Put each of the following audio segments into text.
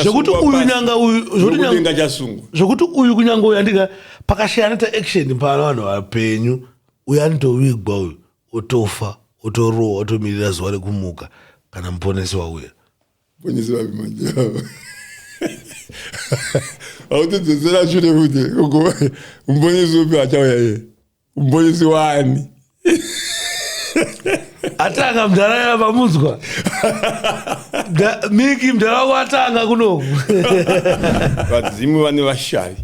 zvekuti uyu nyanga uyudenga chasungwa zvekuti uyu kunyanga uyu andika pakashaya anoita action pano vanhu vapenyu uyu anotovigwa uyu otofa otorowa otomirira zuva rekumuka kana muponesi wauya Bonyezi vapi manje ava. Hautodzosera shure kuti umbonyezi upi achauya iye. Umbonyezi wani? atanga mdhara ya vamunzwa miki mdhara wako atanga kunoku vadzimu vane vashavi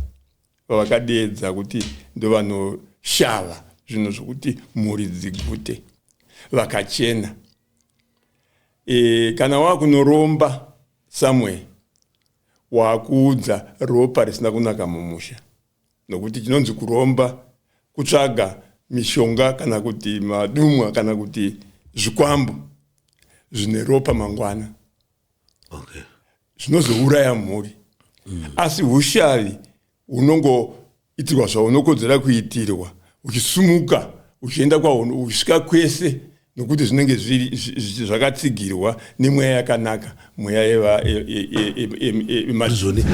vavakadeedza kuti ndovanoshava zvinhu zvokuti mhuri dzigute vakachena e, kana wakunoromba somewhere wakuudza ropa risina kunaka mumusha nokuti chinonzi kuromba kutsvaga mishonga kana kuti madumwa kana kuti zvikwambo zvine ropa mangwana okay. zvinozouraya mhuri mm. asi ushavi hunongo Itirwa zvaunokodzera kuitirwa, uchisumuka uchienda kwauno, uchisvika kwese, nokuti zvinenge zvakatsigirwa nemweya yakanaka, mweya yemazvoni.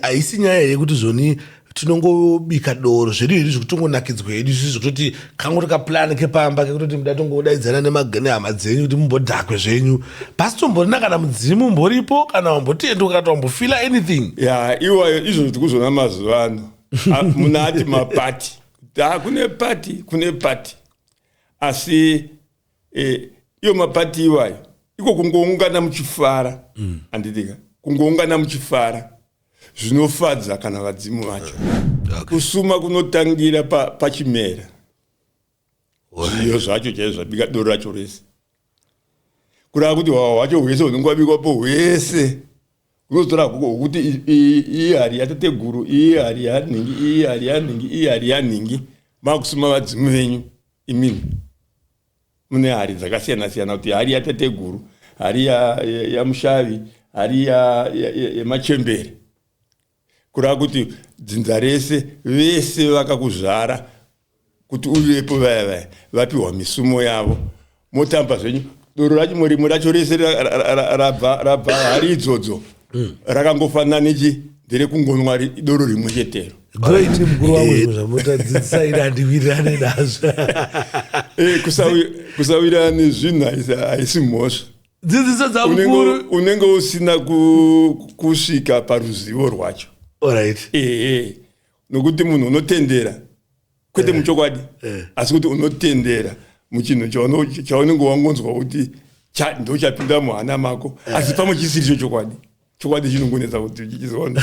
Haisi nyaya yekuti zvoni tinongobika doro zvedu hedu zvekutongonakidzwa hedu isusu zvekutoti kangoti kaplan kepamba kekutoti muda tongodaidzana nehama dzenyu kuti mumbodhakwe zvenyu pasi tomborina kana mudzimu umboripo kana wambotienduka kana wambofila anything ya iwayo izvo ndikuzvona mazuva ano ah, muna ati mapati da kune pati kune pati asi eh, iyo mapati iwayo iko kungoungana muchifara mm. anditika kungoungana muchifara zvinofadza kana vadzimu vacho okay. kusuma kunotangira pachimera pa zviyo zvacho chaizo zvabika doro racho rese kurava kuti hwahwa hwacho hwese hunenge wabikwapo hwese unozotora guko hwokuti iyi hari yatateguru iyi hari yanhingi iyi hari yanhingi iyi hari yanhingi makusuma vadzimu venyu imini mune hari dzakasiyana siyana kuti hari yatateguru hari yamushavi ya, ya hari yemachembere ya, ya kureva kuti dzinza rese vese vakakuzvara kuti uvepo vaya vaya vapiwa misumo yavo motamba zvenyu doro racho murimu racho rese rabva hari idzodzo mm. rakangofanana nechi ndere kungonwa doro rimwe chetero great mukuru wangu eh. zvinhu zvamotadzidzisa ini handiwirirane nazvo eh, kusawirana nezvinhu haisi mhosva dzidziso dzamukuru unenge usina kusvika paruzivo rwacho orit ee eh, nokuti munhu unotendera kwete eh. muchokwadi eh. asi kuti unotendera muchinhu chaunenge wangonzwa kuti ndochapinda muhana mako eh. asi pamwe chisiri cho chokwadi chokwadi chinongonetsa kuti chichizoona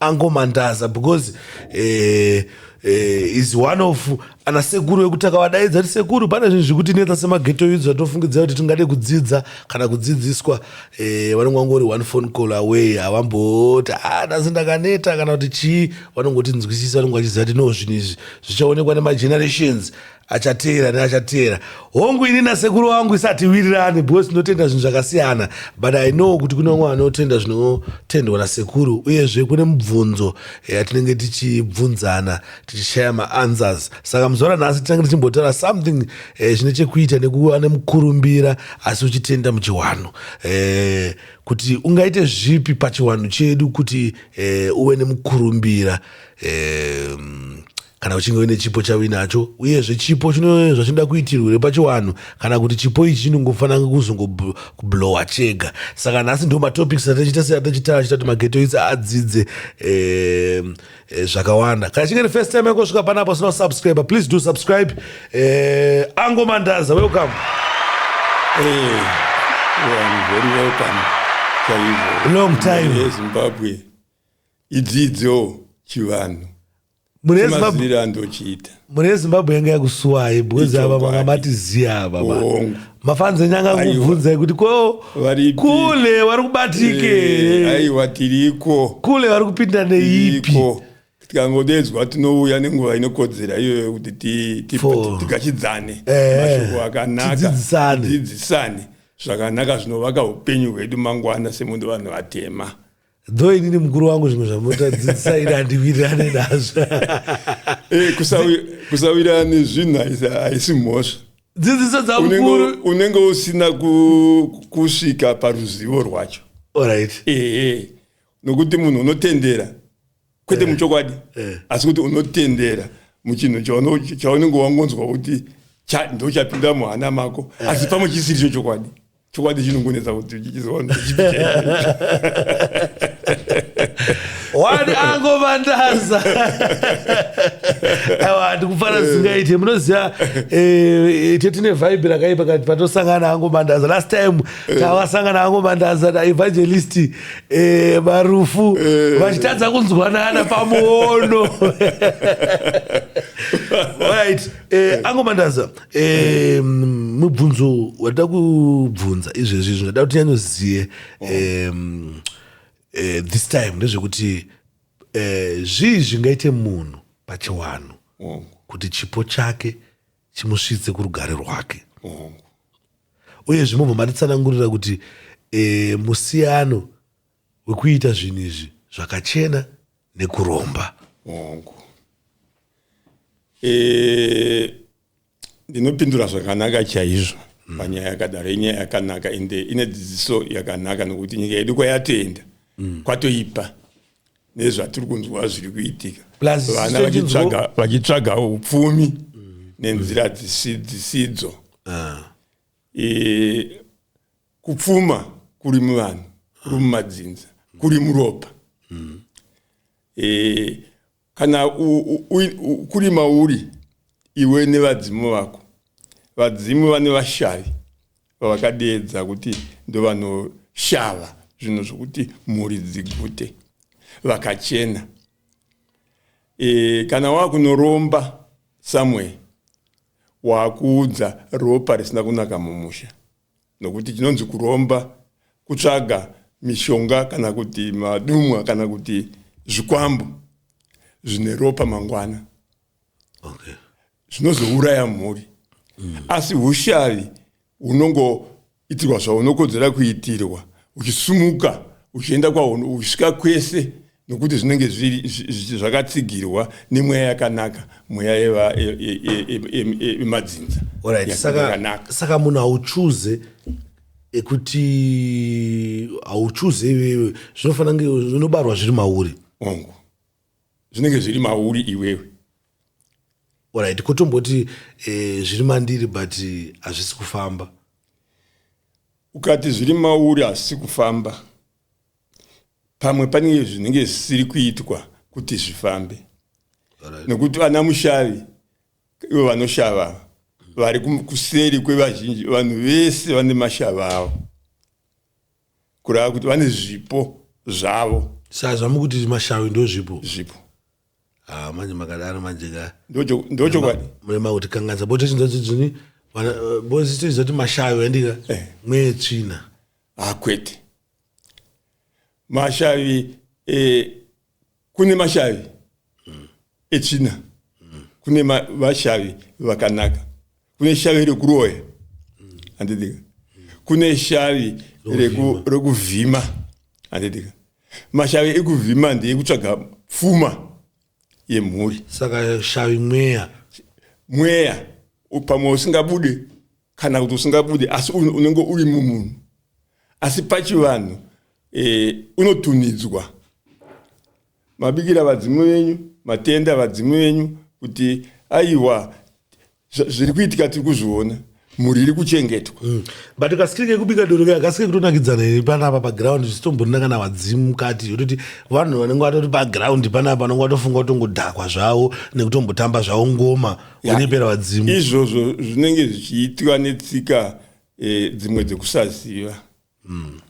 angomandaza because eh, eh, is one of ana sekuru vekuti akavadaidza kuti sekuru pane zvinhu zvekuti netsa semageto yudzo zvatofungidzira kuti tingade kudzidza kana kudzidziswa eh, vanenge vangori one phone call away havamboti ah, ndasi ndakaneta kana kuti chii vanongoti nzwisisa vanenge vachiziva kuti no zvinhu izvi zvichaonekwa nemagenerations achateera neachateera hongu ini nasekuru wangu isatiwirirani because tinotenda zvinhu zvakasiyana but i know kuti kune vamwe vanotenda zvinotendwa nasekuru uyezve kune mubvunzo yatinenge tichibvunzana tichishaya maanswers saka muzora nhasi tinenge tichimbotaura something eh, zvine chekuita nekuva nemukurumbira asi uchitenda muchiwanhu eh, kuti ungaite zvipi pachiwanhu chedu kuti eh, uve nemukurumbira eh, kana uchinge uine chipo chauinacho uyezve chipo chino zvachinoda kuitirwa here pachiwanhu kana kuti chipo ichi chinongofanira kuzongoblowa chega saka nhasi ndo matopics atachita se atachita achita kuti magetoitsi adzidze eh, eh, zvakawanda kana chinge nefirst time yakosvika panapa usina kusubscribe please do subscribe eh, ango mandaza welcome hey, eh, well, very welcome long time yezimbabwe idzidzo chivanhu munezimaziviro andochiita mune zimbabwe yanga yakusuwai bwezi ava manga matiziya ava mafanzi enyanga kubvunzai kuti ko kule wari kubatike eh, aiwa tiriko kule wari kupinda neipi tikangodedzwa tinouya nenguva inokodzera iyoyo kuti tikachidzane eh, mashoko akanakadzidzisane zvakanaka zvinovaka upenyu hwedu mangwana semundu vanhu vatema Though inini mukuru wangu zvimwe zvamunotadzidzisa ini handiwirirane nazvo. Eh, kusawirirana nezvinhu haisi mhosva. Dzidziso dzamukuru. Unenge usina kusvika paruzivo rwacho. Alright. Ehe. Eh, eh. Nokuti munhu unotendera kwete eh. muchokwadi eh. asi kuti unotendera muchinhu chaunenge wangonzwa kuti ndochapinda muhana mako eh. asi pamwe chisiri cho chokwadi chokwadi chinongonetsa kuti chichizoona wani angomandaza awa ndikufana zingaite munoziva eh, ite tine vhaibhi rakaipa kati patosangana angomandaza last time eh. tawasangana angomandaza evangelist Eh, marufu eh. vachitadza kunzwanana pamuono right eh, angomandaza eh, mubvunzo wada kubvunza izvezvi zvinoda kuti nyanyoziye eh, eh, this time ndezvekuti eh, zvii zvingaite munhu pachiwanhu kuti chipo chake chimusvitse kurugare rwake mm. uye zvimobva matitsanangurira kuti e, musiyano wekuita zvinhu izvi zvakachena nekuromba hongu e, ndinopindura zvakanaka chaizvo mm. panyaya yakadaro inyaya yakanaka ende ine dzidziso yakanaka nokuti nyika yedu kwayatenda mm. kwatoipa nezvatiri kunzwa zviri kuitika vana vachitsvaga upfumi nenzira dzisidzo ah. e, kupfuma kuri muvanhu kuri mumadzinza kuri muropa mm. e, kana u, u, u, u, kuri mauri iwe nevadzimu vako vadzimu vane vashavi vavakadeedza kuti ndovanoshava zvinhu zvokuti mhuri dzigute vakachena e, kana wakunoromba somewhere wakuudza ropa risina kunaka mumusha nokuti chinonzi kuromba kutsvaga mishonga kana kuti madumwa kana kuti zvikwambo zvine ropa mangwana okay. zvinozouraya mhuri mm. asi ushari unongoitirwa zvaunokodzera kuitirwa uchisumuka uchienda kwauno uchisvika kwese nokuti zvinenge zvakatsigirwa nemweya yakanaka mweya yemadzinza saka munhu hauchuze ekuti hauchuze iwewe zvinofanira zvinobarwa zviri mauri ongu zvinenge zviri mauri iwewe orit kotomboti eh, zviri mandiri but hazvisi kufamba ukati zviri mauri hazvisi kufamba pamwe panenge zvinenge zvisiri kuitwa kuti zvifambe right. nekuti vana mushavi ivo vanoshava vari kuseri kwevazhinji vanhu vese vane mashava avo kurava kuti vane zvipo zvavo saa zvamukuti mashawi ndo zvipo zvipo ah, manje makadaro manje ka ndochokwadi makuti kanganisa bo tochinzadzini bo zitoiza kuti mashawi andika eh. mweye tsvina akwete ah, mashavi eh, kune mashavi mm. echina mm. kune vashavi vakanaka kune shavi rekuroya mm. andidika mm. kune shavi rekuvhima reku andidika mashavi ekuvhima ndeekutsvaga pfuma yemhuri saka shavi mweya mweya pamwe usingabude kana kuti usingabude asi unenge uri mumunhu asi pachivanhu e, unotunidzwa mabikira vadzimu venyu matenda vadzimu venyu kuti aiwa zviri kuitika tiri kuzviona mhuri iri kuchengetwa mm. but kasikirike kubika doro kaya kasike kutonakidzana here panapa paground zvisitombonina kana vadzimu mukati yototi vanhu vanenge vatoti paground panapa vanenge vatofunga kutongodhakwa zvavo nekutombotamba zvavo ngoma unembera vadzimu izvozvo zvinenge zvichiitwa netsika e, dzimwe dzekusaziva mm.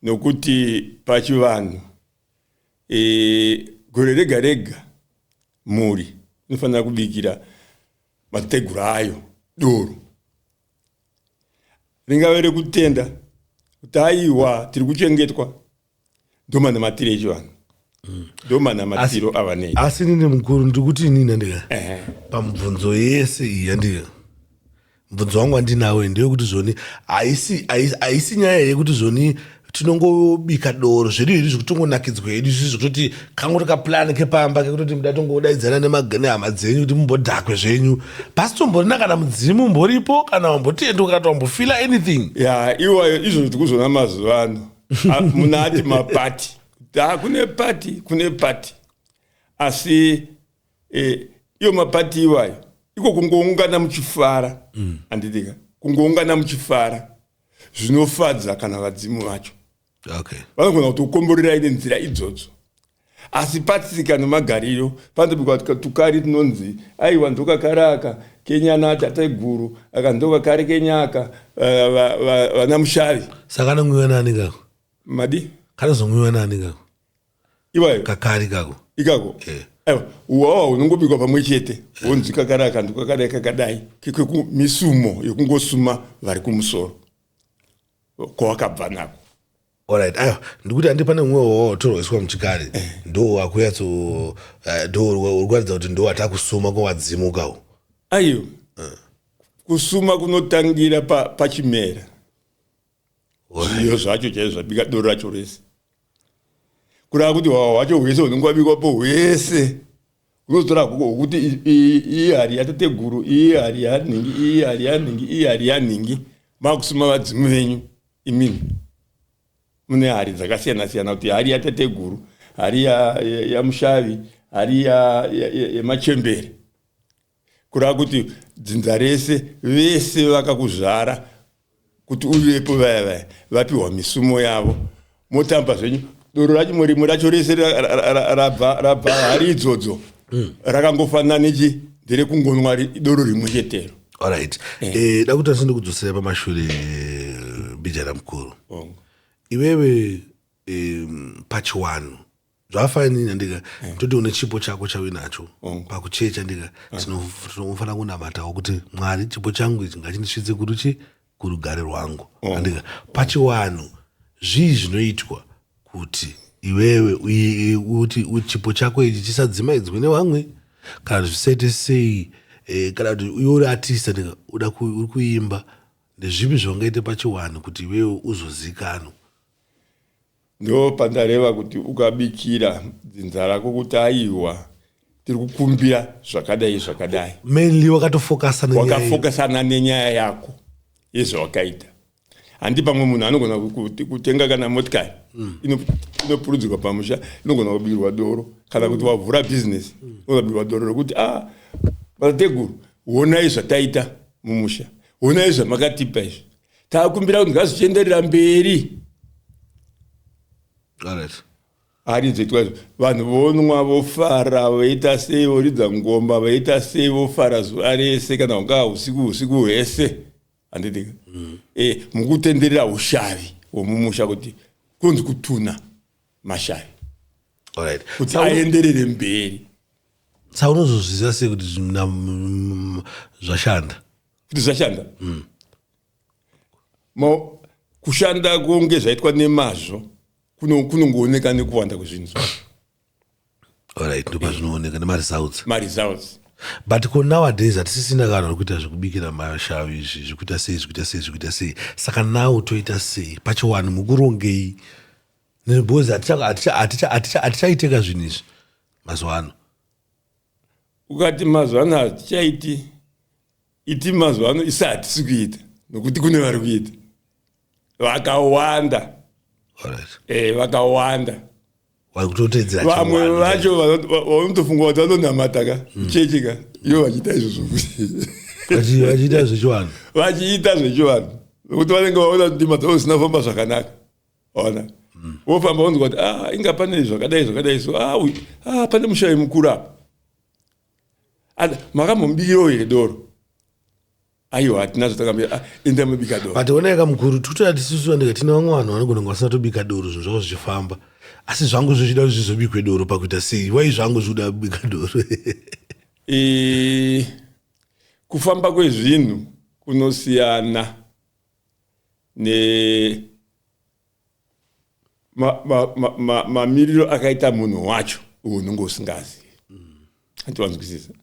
nokuti pachivanhu e, gore rega rega mhuri inofanira kubikira mateguru ayo doro ringave rekutenda kuti aiwa tiri kuchengetwa ndomanamatiro echivanhu mm. ndomanamatiro avanei asi nini mukuru ndiri kuti inini andika pamubvunzo yese iyi yandika mubvunzo wangu andinawo ndeyekuti zvoni haisi nyaya yekuti zvoni tinongobika doro zvedu hedu zvekutongonakidzwa hedu izvizvi zvekutoti kangu tokaplan kepamba kekutoti muda tongodaidzana nehama dzenyu kuti mumbodhakwe zvenyu pasi tomborina kana mudzimu umboripo kana wambotiendokana kuti wambofila anything ya iwayo izvozvo tikuzvona mazuva ano Ah, munhu ati mapati da kune pati kune pati asi eh, iyo mapati iwayo iko kungoungana muchifara mm. anditika kungoungana muchifara zvinofadza kana vadzimu vacho okay. vanogona kuti ukomborerai nenzira idzodzo Asi patsika nemagariro panotobikwa tukari tunonzi aiwa ndokakari aka kenyana atateguru aka ndokakari kenyaka eh, vana mushavi saka anomwiwa nani kako madi kanozomwiwa nani kako iwayo kakari kako ikako eh. uwawa unongobikwa pamwe chete eh. wonzi kakari aka ndokakadai kakadai kekumisumo yekungosuma vari kumusoro kwawakabva nako Alright, ayo ndikuti andi pane umwe wawatorwaiswa muchikari eh. ndo wakuyatso eh, ndo uri kuratidza kuti ndo watakusuma kwawadzimuka u ayo eh. kusuma kunotangira pachimera pa zviyo zvacho chaizvo zvabika doro racho rese kurava kuti hwawa hwacho hwese hunenge wabikwa po hwese Unozotora gogo wokuti iyi hari yatateguru, iyi hari yanhingi, iyi hari yanhingi, iyi hari yanhingi. Makusuma vadzimu venyu imimi. Mune hari dzakasiyana siyana kuti hari yatateguru, hari yamushavi, hari yemachembere. Kureva kuti dzinza rese vese vakakuzvara kuti uvepo vaya vaya vapihwa misumo yavo motamba zvenyu doro racho murimo racho rese rabva rabva hari idzodzo mm. rakangofanana nechi nderekungonwa doro rimwe chetero orit eh. eh, da kuti asinde kudzosera pamashure eh, bijara mukuru iwewe pachiwanhu zvafine nyandika eh. toti une chipo chako chauinacho mm. pakuchecha ndika eh. tinofanira kunamatawo kuti mwari chipo changu ichi ngachindisvitse kuti chi kurugare rwangu mm. andika pachiwanhu zvii zvinoitwa kuti iwewe kuti chipo chako ichi chisadzimaidzwe nevamwe kana zvisaite sei eh, kana kuti uyo uri atista ndika uda uri kuimba ndezvipi zvaungaite pachiwanhu kuti iwewe uzozikanwa Ndo pandareva kuti ukabikira dzinza rako kuti aiwa tiri kukumbira zvakadai zvakadai. Mainly wakatofokasa nenyaya. Wakafokasana nenyaya yako yezvawakaita. Handi pamwe munhu anogona kutenga kana motikari mm. inopurudzirwa pamusha inogona kubirwa doro kana kuti wavhura bhizinesi mm. unogona kubirwa doro rokuti a ah, vatateguru honai zvataita mumusha honai zvamakatipa izvi takumbira kuti ngazvichienderera mberi arizoitwa vanhu vonwa vofara voita sei voridza ngoma voita sei vofara zuva rese kana hungaa usiku usiku hwese handidika mm. e, eh, mukutenderera ushavi womumusha kuti kunzi kutuna mashavi right. kuti aenderere mberi sa unozozviziva sei kuti zvashanda kuti zvichashanda mm. kushanda kunge zvaitwa nemazvo kunongooneka kuno nekuwanda kwezvinhu zvacho orit ndopa zvinooneka nemaresults maresults but ko nowadays hatisisina kana ri kuita zvekubikira mashavi izvi zvekuita sei zvekuita sei zvekuita sei saka now toita sei pachiwani mukurongei because hatichaiteka zvinhu izvi mazuva ano ukati mazuva ano hatichaiti iti mazuva ano isi hatisi kuita nokuti kune vari kuita vakawanda eh, vakawanda vamwe vacho vanotofunga kuti vanonamata ka hmm. chechi ka iyo vachiita izvozvo vachiita zvechivanhu vachiita zvechivanhu nokuti vanenge vaona kuti ndima dzavo zvisina famba zvakanaka ona mm. wofamba wonzi kuti ah, inga pane zvakadai zvakadai so ah, ah, pane mushayi mukuru apa and makambombiro here doro aiwa hatina zvatakambira ah, enda mubika doro but oneka mukuru tikutoya tisusu andika tine vamwe vanhu vanogona kunge vasina tobika doro zvinhu zvavo zvichifamba asi zvangu zvichida kuti zvizobikwe doro pakuita sei wai zvangu zvikuda kubika doro e, kufamba kwezvinhu kunosiyana ne mamiriro ma, ma, ma akaita munhu wacho unenge usingazivi hanti wanzwisisa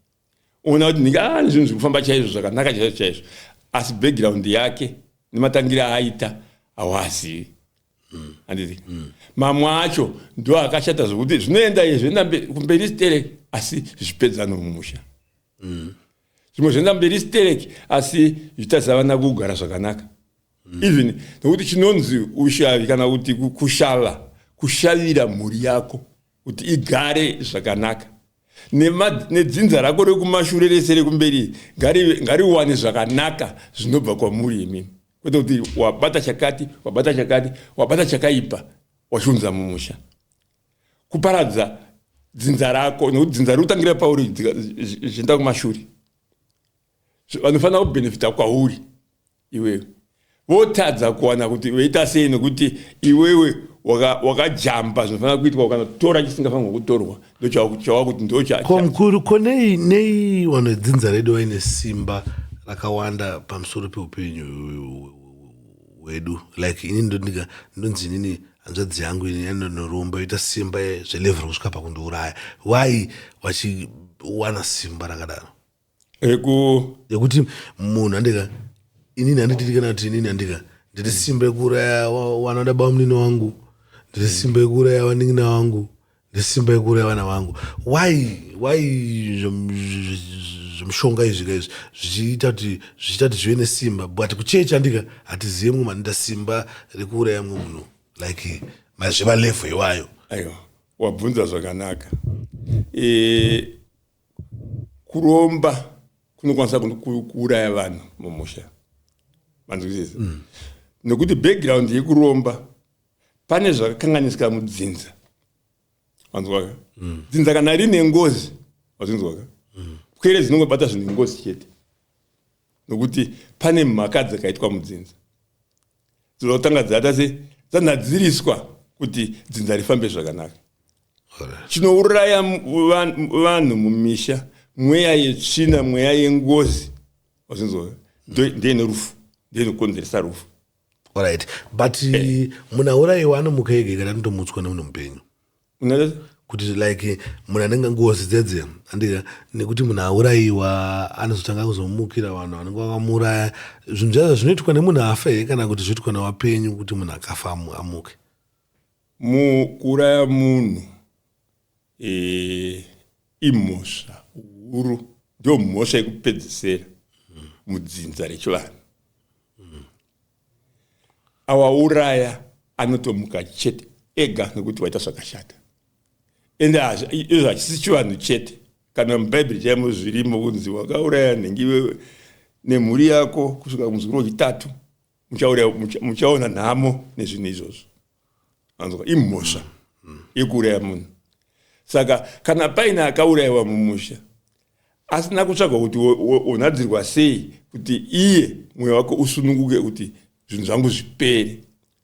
ona kuti ndinge ane ah, zvinhu zviri kufamba chaizvo zvakanaka chaizvo chaizvo asi background yake nematangire aaita hawazivi handiti mm. mamwe acho ndo akashata zvokuti zvinoenda izvo enda kumberi stere asi zvipedzano mumusha mm. zvimwe zvoenda mberi sterek asi zvitadzi havana kugara zvakanaka mm. even nokuti chinonzi ushavi kana kuti kushava kushavira mhuri yako kuti igare zvakanaka nedzinza rako rekumashure rese rekumberi ngariwane zvakanaka zvinobva kwamuri imimi kwete kuti wabata chakati wabata chakati wabata chakaipa wachiunza mumusha kuparadza dzinza rako nekuti dzinza riri kutangira pauri zvichienda kumashure vanofanira kubenefita kwauri iwewe votadza kuwana kuti veita sei nekuti iwewe wakajamba zvinofanira kuitwa ukanotora chisingafanirwa kutorwa ndochawava kuti ndochomukuru ko nei nei vanhu vedzinza redu vaine simba rakawanda pamusoro peupenyu hwedu like ini ndondika ndonzi inini hanzvadzi yangu ini yanonoromba yoita simba zvelevhero kusvika pakundiuraya why vachiwana simba rakadaro yekuti munhu handika inini handititi kana kuti inini handika ndiri simba yekuuraya wanoda bamunini wangu ndiri simba yekuuraya vanin'ina wangu nesimba yekuuraya vana vangu why why zvemushonga izvi ka izvi zvichiita kuti zvichiita kuti zvive nesimba but kuchechi andika hatizive mumwe manoita simba rekuuraya mumwe munhu like mazviva level iwayo aiwa wabvunza zvakanaka e, kuromba kunokwanisa kuuraya vanhu mumusha manzwisisa mm. nekuti background yekuromba pane zvakakanganisika mudzinza wanzwaka mm. dzinza kana rine ngozi wazvinzwaka mm. pwere dzinongobata zvinhu ngozi chete nokuti pane mhaka dzakaitwa mudzinza dzinoda kutanga dzata se dzanhadziriswa kuti dzinza rifambe zvakanaka chinouraya vanhu mumisha mweya yetsvina mweya yengozi wazvinzwaka ndeinerufu ndeinokonzeresa rufu Alright. But hey. muna uraiwa anomuka ega kana anotomutswa nemunhu mupenyu. Ungaita kuti like munhu anenge ngozi dzedze andika nekuti munhu auraiwa anozotanga kuzomukira vanhu vanenge vakamuuraya zvinhu zvaza zvinoitwa nemunhu afa here kana kuti zvoitwa nevapenyu kuti munhu akafa amuke kuuraya munhu eh, imhosva huru ndiyo mhosva yekupedzisera mudzinza rechivanhu awauraya anotomuka chete ega nekuti waita zvakashata ende izvo hachisi chivanhu chete kana mubhaibheri chaimo zvirimo kunzi wakauraya nhengi iwewe nemhuri yako kusvika kumuzukuru wechitatu muchauraya mucha- muchaona nhamo nezvinhu izvozvo anzwa imhosva yekuuraya munhu saka kana paine akaurayiwa mumusha asina kutsvagwa kuti wo- wo- wonhadzirwa sei kuti iye mwoyo wako usununguke kuti zvinhu zvangu zvipere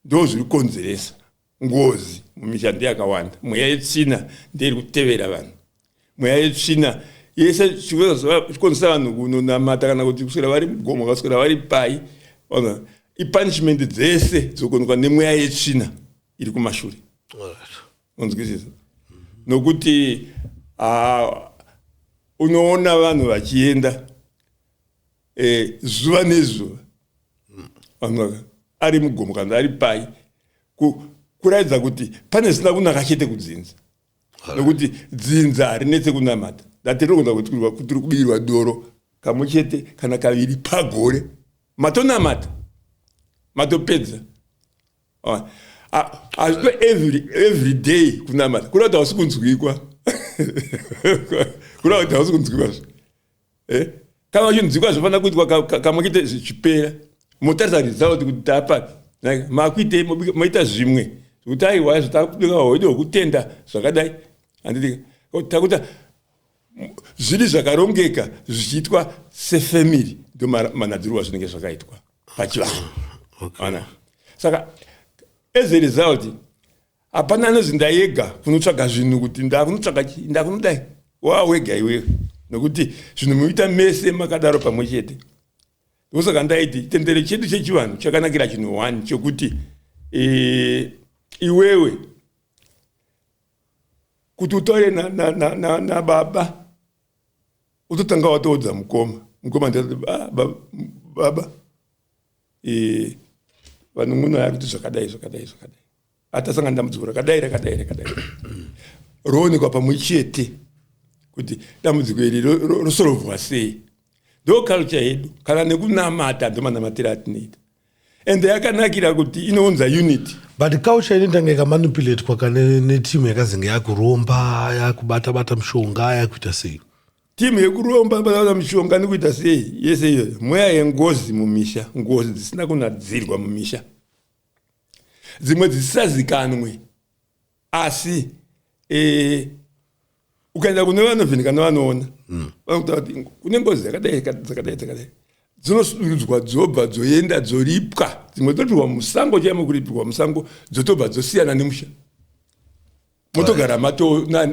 ndo zviri kukonzeresa Ngozi mumisha ndeyakawanda, mweya yetsvina ndeiri kutevera vanhu, mweya yetsvina yese chikonzesa vanhu kunonamata kana kuti kuswera vari mugomo vakaswera vari pai ona ipunishment dzese dzokonzwa nemweya yetsvina iri kumashure unzwisisa nokuti unoona vanhu vachienda eh, zuva nezuva vanga ari mugomo kana ari pai kuraidza kuti pane zvisina kunaka chete kudzinza nokuti dzinza harinetse kunamata datirogona kuti tiri kubirwa doro kamwe chete kana kaviri pagore matonamata matopedza ah, ah, hazvito every day kunamata kureva kuti hausi kunzwikwa kureva kuti hausi kunzwikwa zve eh? kana vachinzwikwa zvinofanira kuitwa kamwe kite zvichipera motarisa result kuti taapapi makuitei moita zvimwe zvekuti aiwa zvatakubika hoide hwekutenda zvakadai handidika takuta zviri zvakarongeka zvichiitwa sefamily ndo manadzirwa zvinenge zvakaitwa pachivanhu ana saka as a result hapana anonzi ndayega kunotsvaga zvinhu kuti ndakunotsvaga chii ndakunodai wawega iwewe nokuti zvinhu muita mese makadaro pamwe chete ndosaka ndaiti chitendero chedu chechivanhu chakanakira chinhu one chokuti e, iwewe kuti utaure na, na, na, na, na baba utotanga watoudza mukoma mukoma ndati ah, baba, baba. E, vanun'una yakuti zvakadai zvakadai zvakadai atasanga ndambudziko rakadai rakadai rakadai roonekwa pamwe chete kuti dambudziko iri rosorovhwa sei ndo culture yedu kana nekunamata ndomanamatira atinoita and yakanakira kuti inounza unity but culture ini tanga ikamanipulatwa ka netimu yakazenge yakuromba yakubata bata mushonga yakuita sei timu yekuromba bata mushonga nikuita sei yese iyoyo mweya yengozi mumisha ngozi dzisina kunadzirwa mumisha dzimwe dzisisazikanwe asi eh, ukaenda kune vanovheneka nevanoona mm. vanokuta kuti kune ngozi dzakadai dzakadai dzakadai dzinosudurudzwa dzobva dzoenda dzoripwa dzimwe dzotorwa musango chaimo kuripirwa musango dzotobva dzosiyana nemusha motogara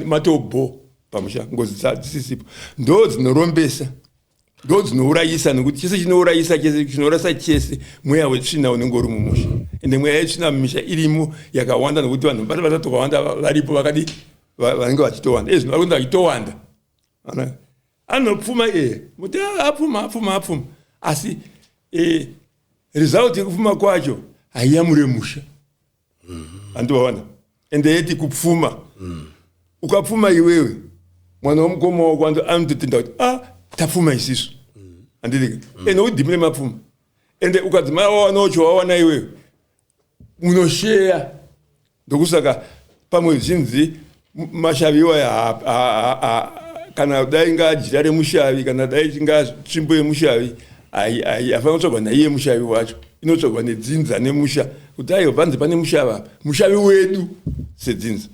matobho pamusha ngozi dzisisipo ndo dzinorombesa ndo dzinourayisa nekuti chese chinourayisa chese chinorasa chese mweya wetsvina unenge uri mumusha ende mweya yetsvina mumisha irimo yakawanda nekuti vanhu vati vatatu vakawanda varipo vakadi vanenge vachitowanda ezvino vari kuenda vachitowanda anopfuma iye muti ah, apfuma apfuma apfuma asi e, result yekupfuma kwacho haiyamure musha handiwaona mm. ende yeti kupfuma mm. ukapfuma iwewe mwana wamukoma wako anototenda kuti a ah, tapfuma isisu handidike mm. ende udhimire mapfuma ende ukadzimara wawanawo chowawana iwewe munosheya ndokusaka pamwe zvinzi mashavi iwaya kana dai inga jira remushavi kana dai inga tsvimbo yemushavi haifanira kutsvagwa naiye mushavi wacho inotsvagwa nedzinza nemusha kuti aiwa panze pane mushavi apa mushavi wedu sedzinza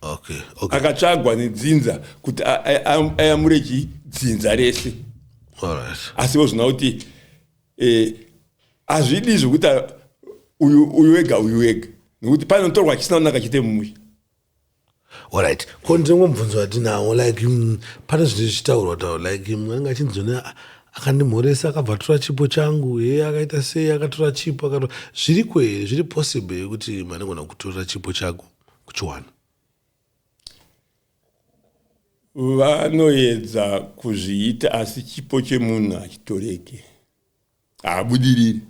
okay, okay. akatsvagwa nedzinza kuti ayamure chii dzinza rese asi vozvina kuti eh, hazvidi zvekuti uyu wega uyu wega nekuti panotorwa chisina kunaka chete mumusha Alright, ko ndimwe mubvunzo watinawo like mm, pane zvinhu zvichitaurwa taura like mm, anenge achinzoni akandimhoresa akabva atora chipo changu e akaita sei akatora chipo akatora zviri kwere zviri possible yekuti manogona kutora chipo chako kuchiwana vanoedza kuzviita asi chipo chemunhu hachitoreke haabudiriri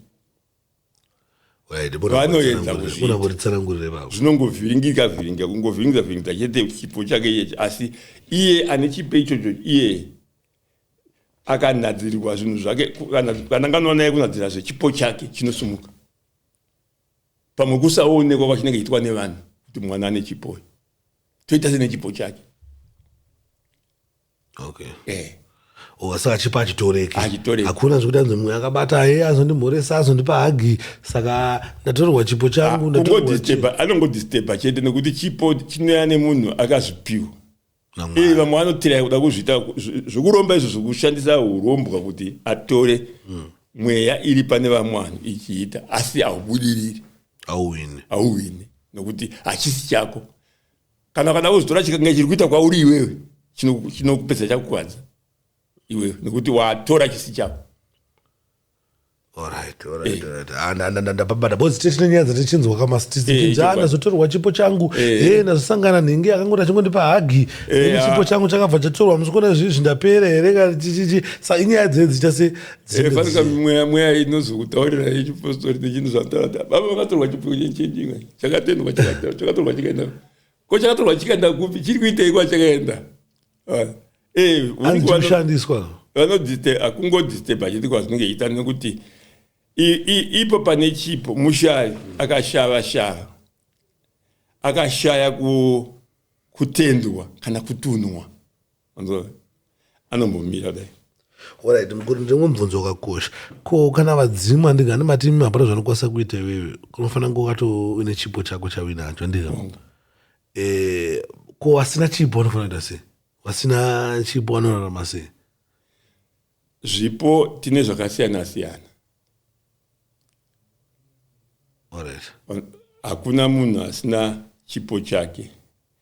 vanoedza kuzviitaunongovhiringika vhiringa kungovhiringisa vhiringisa chete chipo chake iyechi asi iye ane chipo ichocho iye akanadzirirwa zvinhu zvake kana nganoona ye kunadzira zvechipo chake chinosumuka pamwe kusaonekwa kwachinenge chiitwa nevanhu kuti mwana ane chipo toita sene chipo chake okay eh oh, saka chipo achitoreki Hachitoreki. hakuna zvekuti anzi mumwe akabata ye azondimhoresa azondipa hagi saka ndatorerwa chipo changu ndatorerwa chi- ungodisturba anongodisturba chete nekuti chipo chinouya nemunhu akazvipiwa naMwari. iye vamwe vanotiraya kuda kuzviita zv- zvekuromba izvo zvekushandisa urombwa kuti atore mweya iri pane vamwe vanhu ichiita asi haubudiriri auwine hauhwine nokuti hachisi chako kana kana uzotora chikange chiri kuita kwauri iwewe chinokupedza chakukwadza iwewe nekuti watora chisi chako ndapabatabozitinyanza tichinzwa kamasitizitinzanazotorwa eh. chipo changu eh. eh, nazosangana nhingi akangoti achingondipa hagi ah. chipo changu chakabva chatorwa musikuona zvii zvindapera here kaichichichi sa inyaya dzee dziita se fanika mweya mweya inozokutaurira yechipostori nechinhu zvandaada baba vakatorwa chipo chenjenjingai chakatendwa chakatorwa chikaenda ko chakatorwa chikaenda kupi chiri kuitei kwa chakaenda ah, eh, anoshandiswa vanodiste akungodisteba chete kwazvinenge iita nekuti ipo pane chipo mushayi akashava shava akashaya kutendwa kana kutunwa Anzwa anombomira dai. Alright mukuru ndimwe mubvunzo wakakosha. Ko kana vadzimu andingani mati imi hapana zvanokwanisa kuita iwewe. Unofanira kunge wakato une chipo chako chawinacho ndizvo. Mm. Eh ko wasina chipo unofanira kuita sei? Wasina chipo wanorarama sei? Zvipo tine zvakasiyana siyana. Alright. Hakuna munhu asina chipo chake.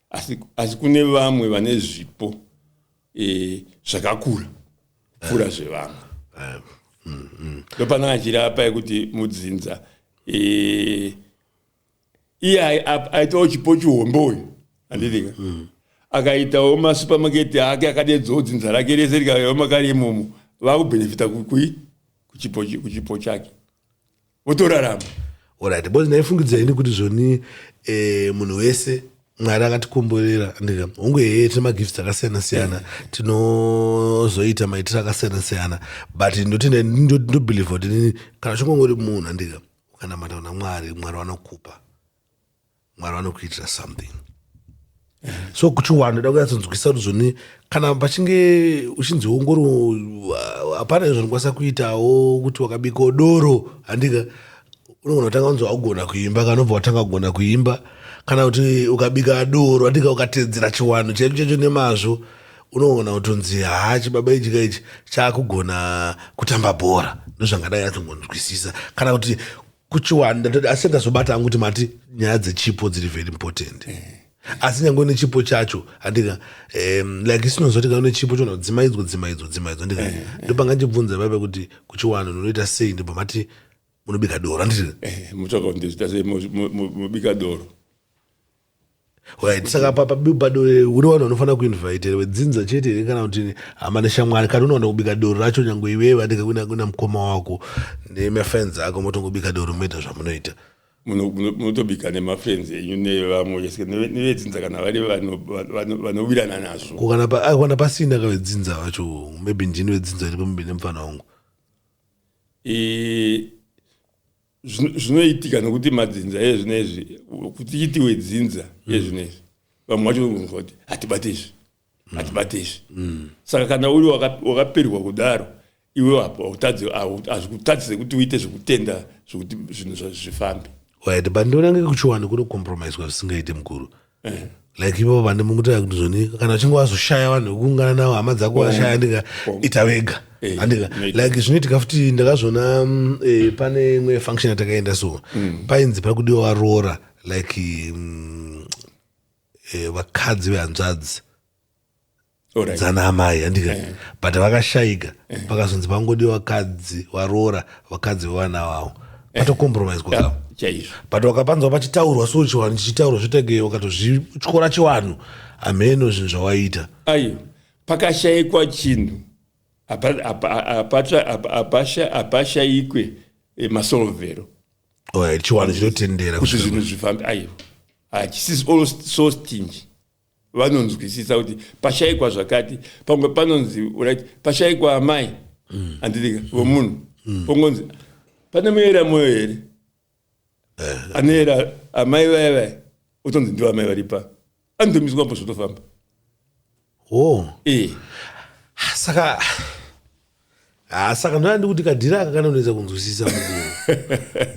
asi, asi kune vamwe vane zvipo e, zvakakura pfuura eh. zvevamwe eh. mm, mm. ndopana achirapa yekuti mudzinza e, iye aitawo chipo chihombe uyu anditika mm, akaitawo masupamaketi ake akadeedzawo dzinza rake rese rikaiwa makari imomo vakubhenefita kuchipo chake wotorarama orit bcause ndaifungidza ini kuti zvoni eh, munhu wese mwari akatikomborera ndika hongu hee tine magifts akasiyana siyana tinozoita maitiro akasiyana siyana but ndotindobelieve kuti nini kana chingongori munhu andika ukanamata kuna mwari mwari vanokupa mwari vanokuitira something so kuchiwanda ndoda kunyatsonzwisa kuti zvoni kana pachinge uchinzi ongoro uh, hapana izvo ndikwanisa kuitawo kuti wakabiko doro handika unogona kutanga kunzi waugona kuimba kanobva watanga kugona kuimba kana kuti ukabika doro handika ukateedzera chiwando chaicho chaicho nemazvo unogona kutonzi haa chibaba ichi ka ichi chaakugona kutamba bhora ndozvangadai atongonzwisisa kana kuti kuchiwanda ndati asi ndazobata hangu kuti mati nyaya dzechipo dziri very important eh. asi nyange une chipo chacho andika um, like isinozoti kana une chipo chona dzimaidzwo dzimaidzwo dzimaidzwo andika eh, eh. ndopanga ndibvunza baba kuti kuchiwanda unoita sei ndipo mati munobika doro anditi mubika doro Right. Saka papa bado uri vanhu vanofanira kuinvite vedzinza chete here kana kuti hama neshamwari kana unowana kubika doro racho nyange iwe vadika kuna kuna mukoma wako nemafans ako motongobika doro moita zvamunoita munotobika nemafrenzi enyu nevamwe nevedzinza kana vari vanowirana nazvo kana pasina ka vedzinza vacho maybe ndini vedzinza iri pambe nemufana wangu zvinoitika nokuti madzinza ezvinezvi kuti itiwe dzinza mm. ezvinezvi vamwe vacho vanogonzwa kuti hatibate izvi mm. hatibate izvi mm. saka kana uri wakaperwa kudaro iwe apo hautadzi hazvikutadzi sekuti uite zvekutenda zvekuti zvinhu zvazvifambe right but ndionange kuchiwani kunokompromiswa zvisingaite mukuru eh. like ivo vane mukutaya kuti zvoni kana uchinge wazoshaya vanhu vekuungana navo hama dzako washaya oh. ndika oh. ita vega eh, andika like zvinoitika futi ndakazviona mm, eh, pane imwe function yatakaenda so mm. painzi pari kudiwa varoora like mm, vakadzi vehanzvadzi Alright. dzana amai handika Eh. but vakashaika pakazonzi pangodi vakadzi varoora vakadzi vevana vavo patokompromiswa Yeah, kavo chaizvo but wakapanzwa pachitaurwa so chivanhu chichitaurwa zvotege wakatozvityora chivanhu hameno zvinhu zvawaita ayo pakashaikwa chinhu hapa- hapa- hapata- hapa- hapasha- hapashaikwe eh, masolvero Alright, chiwanhu chinotendera kuti kusvika zvinhu zvifambe ayo hachisi all so stingy vanonzwisisa kuti pashaikwa zvakati pamwe panonzi right pashaikwa amai mm. andirika mm. vomunhu mm. pongonzi pane muera moyo here eh. anoera amai vaya vaya otonzi ndivo amai varipa anotomiswa mbo zvotofamba oh. e. saka ah, saka ndoda ndikuti kadhira aka kanonoedza kunzwisisa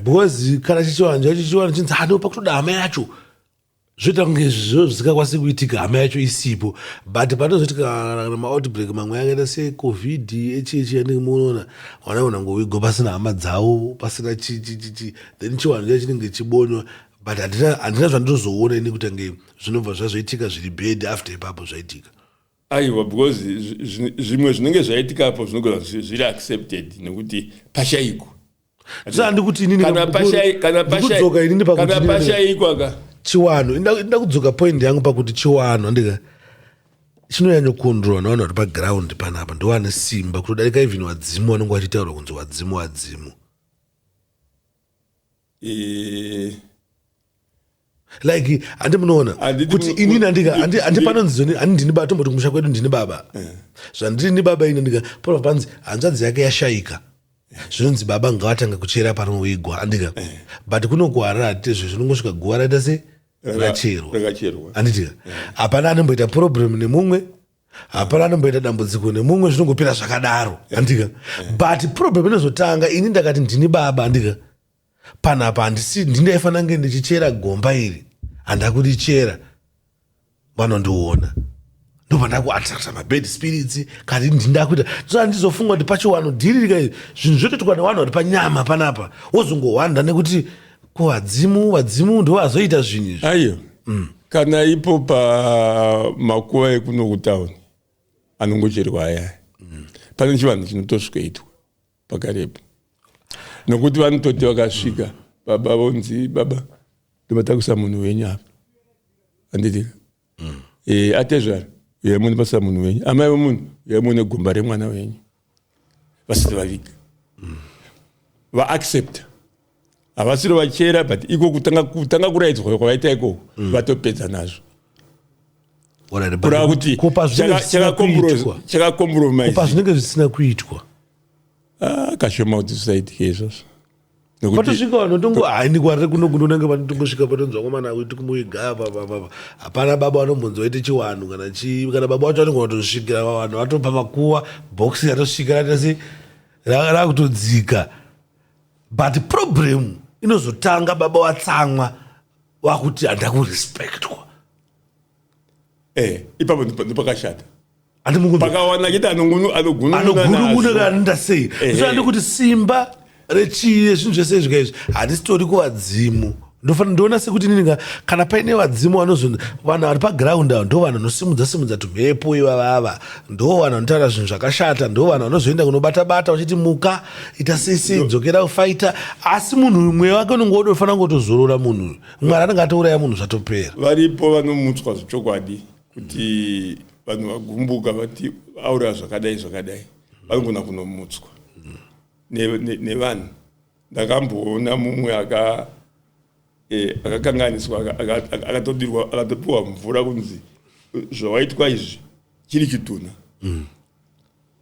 because kana chichiwanjo chichiwanjo chinzi anopa ah, kutoda amai yacho zvoita kunge izvizvo zvisingakwanisi kuitika hama yacho isipo but panozoti kana maoutbreak mamwe akaita secovid echichi yanenge munoona vana vanangovigwa pasina hama dzavo pasina chichichichi then chiwanhu cha chinenge chibonywa but handina zvandinozoona ini kutangei zvinobva zvazoitika zviri bed after ipapo zvaitika Aiwa because zvimwe zvinenge zvaitika apo zvinogona zviri accepted nekuti pashaiko kana pashaikwa ka chiwanhu inda kudzoka point yangu pakuti chiwanhu andika chinonyanyokondrwa navanhu vari paground panapa ndovane simba kutodarika even vadzimu vanenge vachitaurwa kunzi wadzimu wadzimu Eh, like handi munoona Handidi kuti mu- inini andika handi handi panonzi zoni- handi ndini baba tomboti kumusha kwedu ndini baba zvandiri ni baba ini ndika pano panzi hanzvadzi yake yashaika zvinonzi baba ngavatanga kuchera panoigwa andika but kuno kuharara hatitezve zvinongosvika guva raita se Raka- racherwa rakacherwa. anditika hapana anomboita problem nemumwe hapana anomboita dambudziko nemumwe zvinongopera zvakadaro andika but problem inozotanga ini ndakati ndini baba andika panapa handisi ndindaifanira kunge ndichichera gomba iri handakurichera vanondiona ndopandakuattracta mabad spirits kati ndindakuita so andizofunga kuti pachiwano dhiririka zvinhu zvotoitwa newanhu vari panyama panapa wozongohwanda nekuti ko vadzimu vadzimu ndo vazoita zvinhu izvi aiyo mm. kana ipo pamakuva ekuno kutauni anongocherwa ayaya mm. pane chivanhu chinotosvikoitwa pakarepo nokuti vanototi vakasvika baba vonzi baba ndobatakusa munhu wenyu apa handiti mm. e, atezvara uyai mune basa munhu wenyu amai vemunhu uyai mune gomba remwana wenyu vasati vaviga mm. vaaccepta havasiro vachera but iko kutanga, kutanga kuraidzwa kwavaita ikoko mm. vatopedza nazvo kurava kuti chakakompromisekupa zvinenge zvisina kuitwa ah, kashoma kuti zvisaitike izvozvo patosvika vanhu vatongo haini kwarire kuno kunonanga vanotongosvika patonzwa komana akuiti kumuiga apa papapa hapana baba vanombonzi waite chiwanhu kana chii kana baba wacho vanenge vatosvikira vavanhu vatopa makuva boxi ratosvika ratasi rakutodzika but problem inozotanga baba watsamwa wakuti handakurespectwa eh ipapo ndipakashata pakawana chete anogununanogunununa kanida sei zvaandi kuti simba rechiye zvinhu zvese izvika izvi handisitori kuvadzimu ndofanira ndoona sekuti nininga kana paine vadzimu vanozonzi vanhu vari paground avo ndo vanhu vanosimudza simudza tumhepo ivavava ndo vanhu vanotaura zvinhu zvakashata ndo vanhu vanozoenda kunobata bata vachiti muka ita sisi dzokera kufaita asi munhu uyu mweya wake unenge wodofanira kutozorora munhu uyu mwari anenge atouraya munhu zvatopera varipo vanomutswa zvechokwadi kuti vanhu vagumbuka vati auraya zvakadai zvakadai vanogona kunomutswa nevanhu ndakamboona mumwe eh, akakanganiswa akatopiwa mvura kunzi zvawaitwa izvi chiri chitunha mm.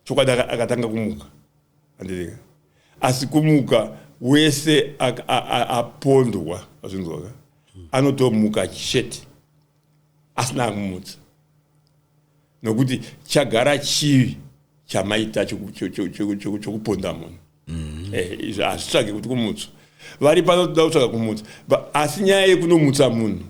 Chokwadi aka- akatanga kumuka andirega asi kumuka wese ak- a- a- apondwa azvinzwaka anotomuka chete asina akumutsa nokuti chagara chivi chamaita choku- cho- cho- cho- cho- chokuponda munhu Eh, izvi hazvitsvage kuti kumutswa vari pano toda kutsvaga kumutsa Ba- asi nyaya yekunomutsa munhu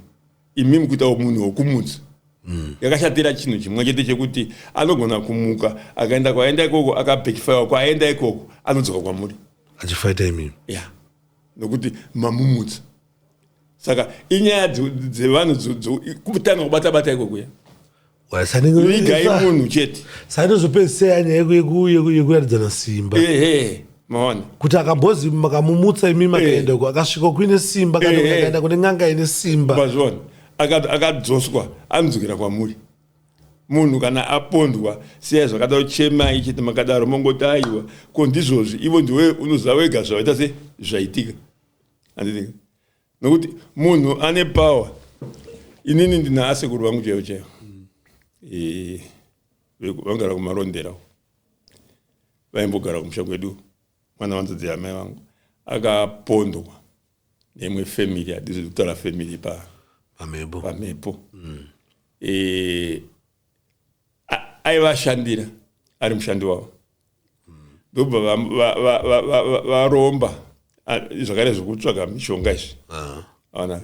imi mukuitawo munhu wokumutsa mm. yakashatira chinhu chimwe chete chekuti anogona kumuka akaenda kwaenda ikoko akabekifaiwa kwaenda ikoko anodzoka kwamuri achifaita imimi ya yeah. nokuti mamumutsa saka inyaya dzevanhu kutanga kubata bata ikoko ya vigai munhu chete sainozopedzisira nyaya yekuratidzana simba maona kuti akambozi makamumutsa imi makaenda uko akasvika kuine simba kanaenda kune n'anga ine simba mazviona akadzoswa anodzokera kwamuri munhu kana apondwa siyai zvakadaro chemai chete makadaro mongoti aiwa ko ndizvozvi ivo ndiwe unoziva wega zvavaita se zvaitika andidika nokuti munhu ane power inini ndina asekuru vangu chaivo chaivo eh, vangara kumarondera vaimbogara kumusha kwedu mwana wanzodzi yamai vangu akapondwa neimwe family hadizi kutaura family pa pamhepo pamhepo mm. e, aivashandira ari mushandi wavo ndobva varomba zvakare zvekutsvaga mishonga izvi ah. aona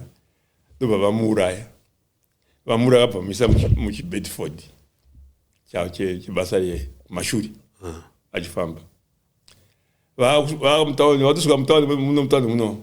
ndobva vamuuraya vamuuraya vabva vamuisa muchibedford chavo chebasa remashuri ah. achifamba vaamutauni vatosvika mutauni muno mutauni muno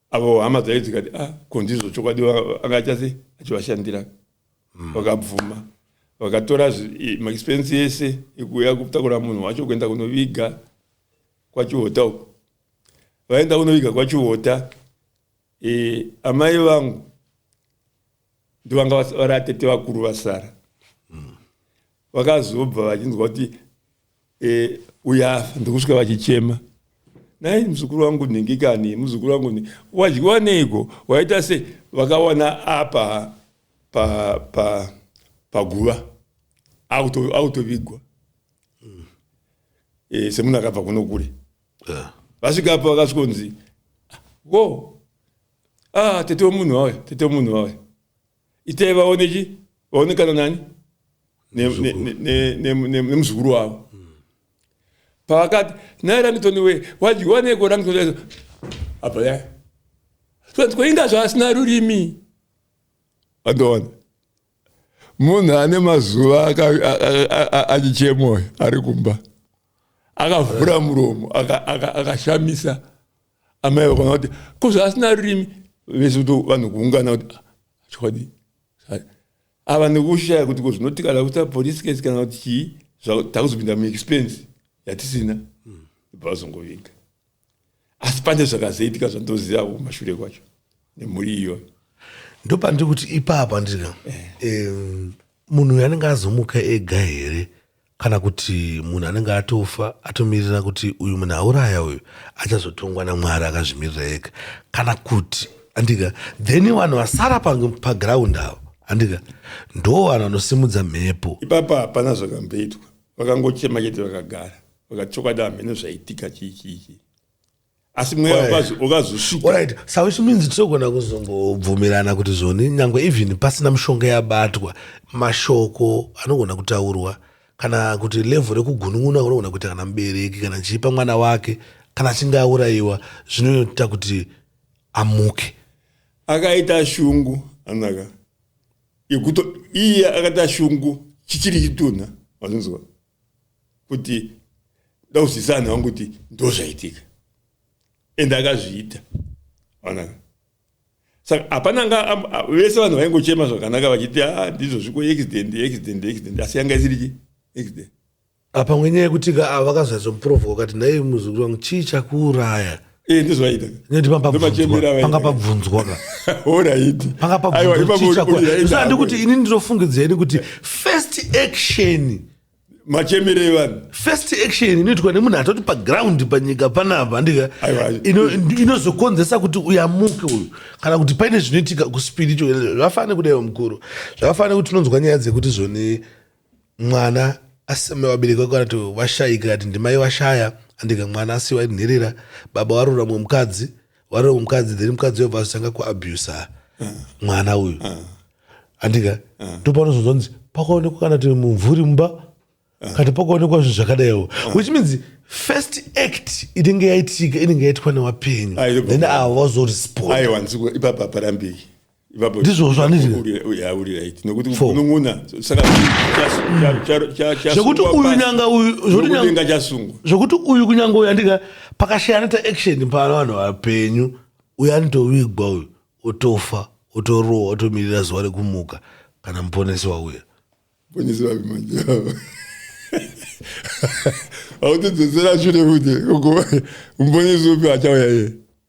avo hama dzayo dzikati a ah, ko ndizvo chokwadi anga achase achivashandira hmm. vakabvuma mm. vakatora maexpense ese ekuuya kutakura munhu wacho kuenda kunoviga kwachiota uko vaenda kunoviga kwachiota e, amai vangu ndovanga vari atete vakuru vasara mm. vakazobva vachinzwa kuti e, uyafa ndokusvika vachichema nai muzukuru wangu nhingi kani muzukuru wangu nhingi wadyiwa neiko waita se vakawana apa paguva pa, pa, pa autovigwa mm. e, eh, semunhu akabva kuno kure yeah. vasvikapo vakasvikonzi wo ah, tete wemunhu wauya tete wemunhu wauya itai vaone chi vaonekana nani nemuzukuru wavo pavakati naye rangitoni wee wadyiwaneiko rangitoni apa ya tikoinga zvaasina rurimi andoona munhu ane mazuva achichemoyo ari kumba akavhura muromo akashamisa aka, aka, aka Amai vakona kuti ko zvaasina rurimi vese kuti vanhu kuungana kuti ah, chokwadi ava nekushaya kuti ko zvinoti kana kuita police case kana kuti chii takuzopinda muexpense yatisina hmm. vazongovinga asi pane zvakazoitika zvandoziva kumashure kwacho nemhuri iyoyo ndopandiri kuti ipapa ndika eh. munhu uyo anenge azomuka ega here kana kuti munhu anenge atofa atomirira kuti uyu munhu auraya uyu achazotongwa namwari akazvimirira ega kana kuti andika then vanhu vasara pagraund avo andika ndo vanhu vanosimudza mhepo ipapa hapana zvakamboitwa vakangochema chete vakagara vakachokwadi hamheno zvaitika chii chii chii asi mweya ukazosvikaorit sa which means tinogona kuzongobvumirana kuti zvoni nyange even pasina mushonga yabatwa mashoko anogona kutaurwa kana kuti levho rekugunun'una kunogona kuita kana mubereki kana chiipa mwana wake kana achinge aurayiwa zvinoita kuti amuke akaita shungu anaka yekuto iye akaita shungu chichiri chitunha vanonzwa kuti ndauzisa anhu vangu kuti ndozvaitika ende akazviita onaka saka hapana anga vese vanhu vaingochema zvakanaka vachiti a ah, ndizvo zviko accident accident accident asi yanga isiriki accident apa mwenyaya yekuti ka ah, vakazadzwa muprofo wakati nhai muzukuru wangu chii chakuuraya Eh, ndozvaitapanga pabvunzwa panga pabvunzwaandi kuti ini ndinofungidzira ini kuti first action machemere evanhu first action inoitwa nemunhu atoti paground panyika panapa andika inozokonzesa kuti uyamuke uyu kana kuti paine zvinoitika kuspiritu zvakafanana nekudaiwa mukuru zvakafanana nekuti tinonzwa nyaya dzekuti zvoni mwana aseme vabereki vako kana kuti vashaika kati ndimai vashaya andika mwana asiwa iri nherera baba warora mumwe mukadzi warora mumwe mukadzi then mukadzi uyo vazotanga kuabusa mwana uyu andika ndopanozonzonzi pakaonekwa kana kuti mumvuri mumba kati pakaonekwa zvinhu zvakadaiwo which means first act inenge yaitika inenge yaitwa newapenyu then ava vazoresponda aiwanziko ipapa parambei ndizvo zvanditinekuti uyu nyanga uyuzvokuti uyu kunyanga uyu andika pakashaya anoita action pano vanhu vapenyu uyu anotovigwa uyu otofa otorowa otomirira zuva rekumuka kana muponesi wauya autidzosera shure kuti muponesi upi achauya iye